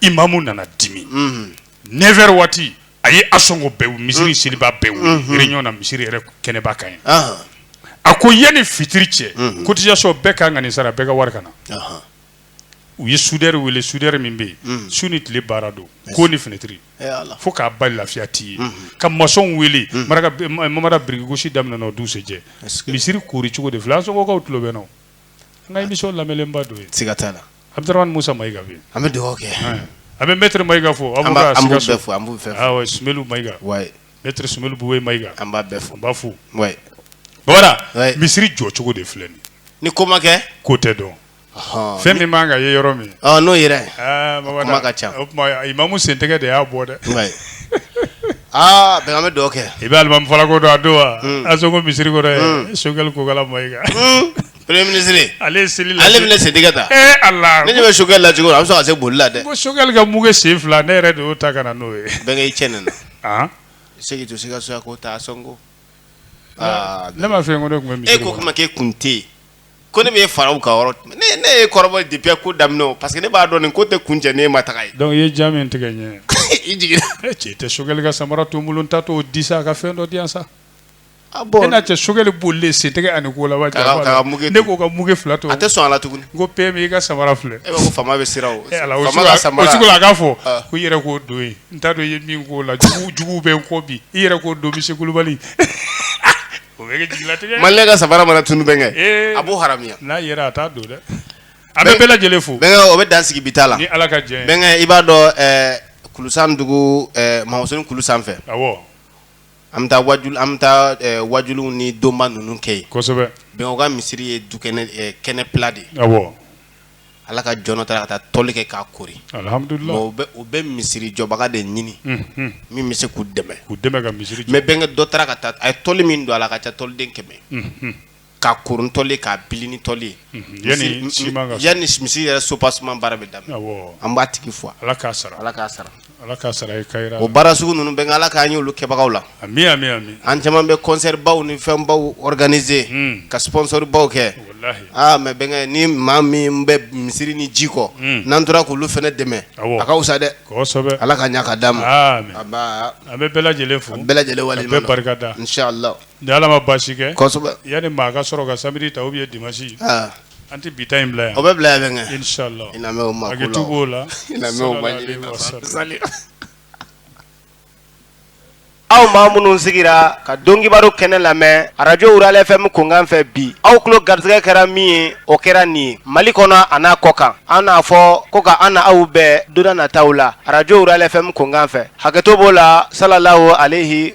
S1: imamu nana dimi neuf heures waati a ye Ansongo bɛɛ misiri selibaa bɛɛ réunion na misiri yɛrɛ kɛnɛba kan yen a ko yan ni fitiri cɛ cotisation bɛɛ ka kan ka nin sara bɛɛ ka wari ka na u ye soudeur wele soudeur min bɛ yen su ni tile baara don kon ni finitiri fo k'a ban lafiya tɛ yen ka maçon wele mara birikigosi daminɛ o dugusajɛ misiri koori cogo de filɛ Ansongokaw tulo bɛ n na an ka émission lamɛnlenba don yen se ka taa la Abdourahmane Moussa Maïga an bɛ dɔgɔkɛ an bɛ maître Maïga fo an b'a fo an b' fɛ Soumeylou Maïga maître Soumeylou Boubèye Maïga an b'a bɛɛ fo n b'a fo bamanan misiri jɔ cogo de filɛ nin ni ko ma kɛ ko tɛ dɔn fɛn min b'an ka ye yɔrɔ min n'o yɛrɛ ka ca o imamu sentɛgɛ de y'a bɔ dɛ aaa bɛn bɛ dɔgɔkɛ i bɛ alimami fali ko dɔn a dɔn wa Ansongo misiri ko Choguel Kokalla Maïga Premier ministre ale ye seli lase, ale bɛna seli kɛ tan, ee Ala, ne ɲɛ bɛ sogɛli la cogo min a bɛ sɔn ka se boli la dɛ, ko sogɛli ka mukɛ sen fila ne yɛrɛ de y'o ta ka na n'o ye, bɛnkɛ i cɛ nana, an, segi to sikaso yan ko taa sɔnko, aa, ne m'a fɔ e ko ne tun bɛ misiri kɔnɔ, e ko kuma k'e kun tɛ yen, ko ne bɛ faraw ka yɔrɔ, ne ne y'e kɔrɔbɔ depuis ko daminɛ o parce que ne b'a dɔn nin ko tɛ kuncɛ n'e ma taga yen, donc i ye ja min tigɛ n ɲɛ, i jiginna, e cɛ i tɛ sogɛli ka samara to n bolo n taatɔ o di sa ka fɛn dɔ di yan sa Ah, e n'a cɛ sogɛli bolilen sen tɛgɛ ani ko la ne k'o ka mukɛ fila to a tɛ sɔn a la tugun ko PM i ka samara filɛ e ko faama bɛ sira o eh, a k'a fɔ ah. ko i yɛrɛ k'o don ye n t'a dɔn i ye min k'o la jugu bɛ n kɔ bi i yɛrɛ k'o don misi kulubali o bɛ kɛ jigilatigɛ mali ka samara mana tunu bɛ kɛ eh. a b'o haramuya n'a yɛrɛ a t'a don dɛ an bɛ bɛɛ lajɛlen fo bɛnkɛ o bɛ dan sigi bi ta la ni ala ka jɛ bɛnkɛ i b'a dɔn eh, kulusan dugu mamuso kulu sanfɛ awɔ an bɛ taa waajuli an bɛ taa waajuli ni donba ninnu kɛ yen kosɛbɛ bɛnkɛ u ka misiri ye du kɛnɛ fila de ye ala ka jɔn dɔ taara ka taa tɔli kɛ k'a koori alhamdulilahi u bɛ misirijɔbaga de ɲini min bɛ se k'u dɛmɛ mais bɛnkɛ dɔ taara ka taa a ye tɔli min don a la a ka ca tɔliden kɛmɛ k'a koori ni tɔli k'a bili ni tɔli yanni misiri yɛrɛ soubassement baara bɛ da an b'a tigi fo ala k'a sara o baara sugu ninnu bɛɛ ala k'an ye olu kɛbagaw la an caman bɛ concertbaw ni fɛnbaw organisé ka sponsorbaw kɛ aa mais bɛnkɛ ni maa min bɛ misiri ni jiko n'an tora k'olu fana dɛmɛ a ka fisa dɛ ala k'a ɲa k'a d'an ma an bɛ lajɛlen fo bɛɛ lajɛlen barika Ni ala ma basi kɛ yanni maa ka sɔrɔ ka sabali ta u ye dimasi an tɛ bi in bila yan o bɛ bila yan la aw maa minnu sigira ka don kibaru kɛnɛ lamɛn arajo RFM kunkan fɛ bi aw tulo garisɛgɛ kɛra min ye o kɛra nin ye mali kɔnɔ ani a kɔkan an n'a fɔ ko k'an n'aw bɛn don nataw la arajo RFM kunkan fɛ hakɛto b'o la salam aleyi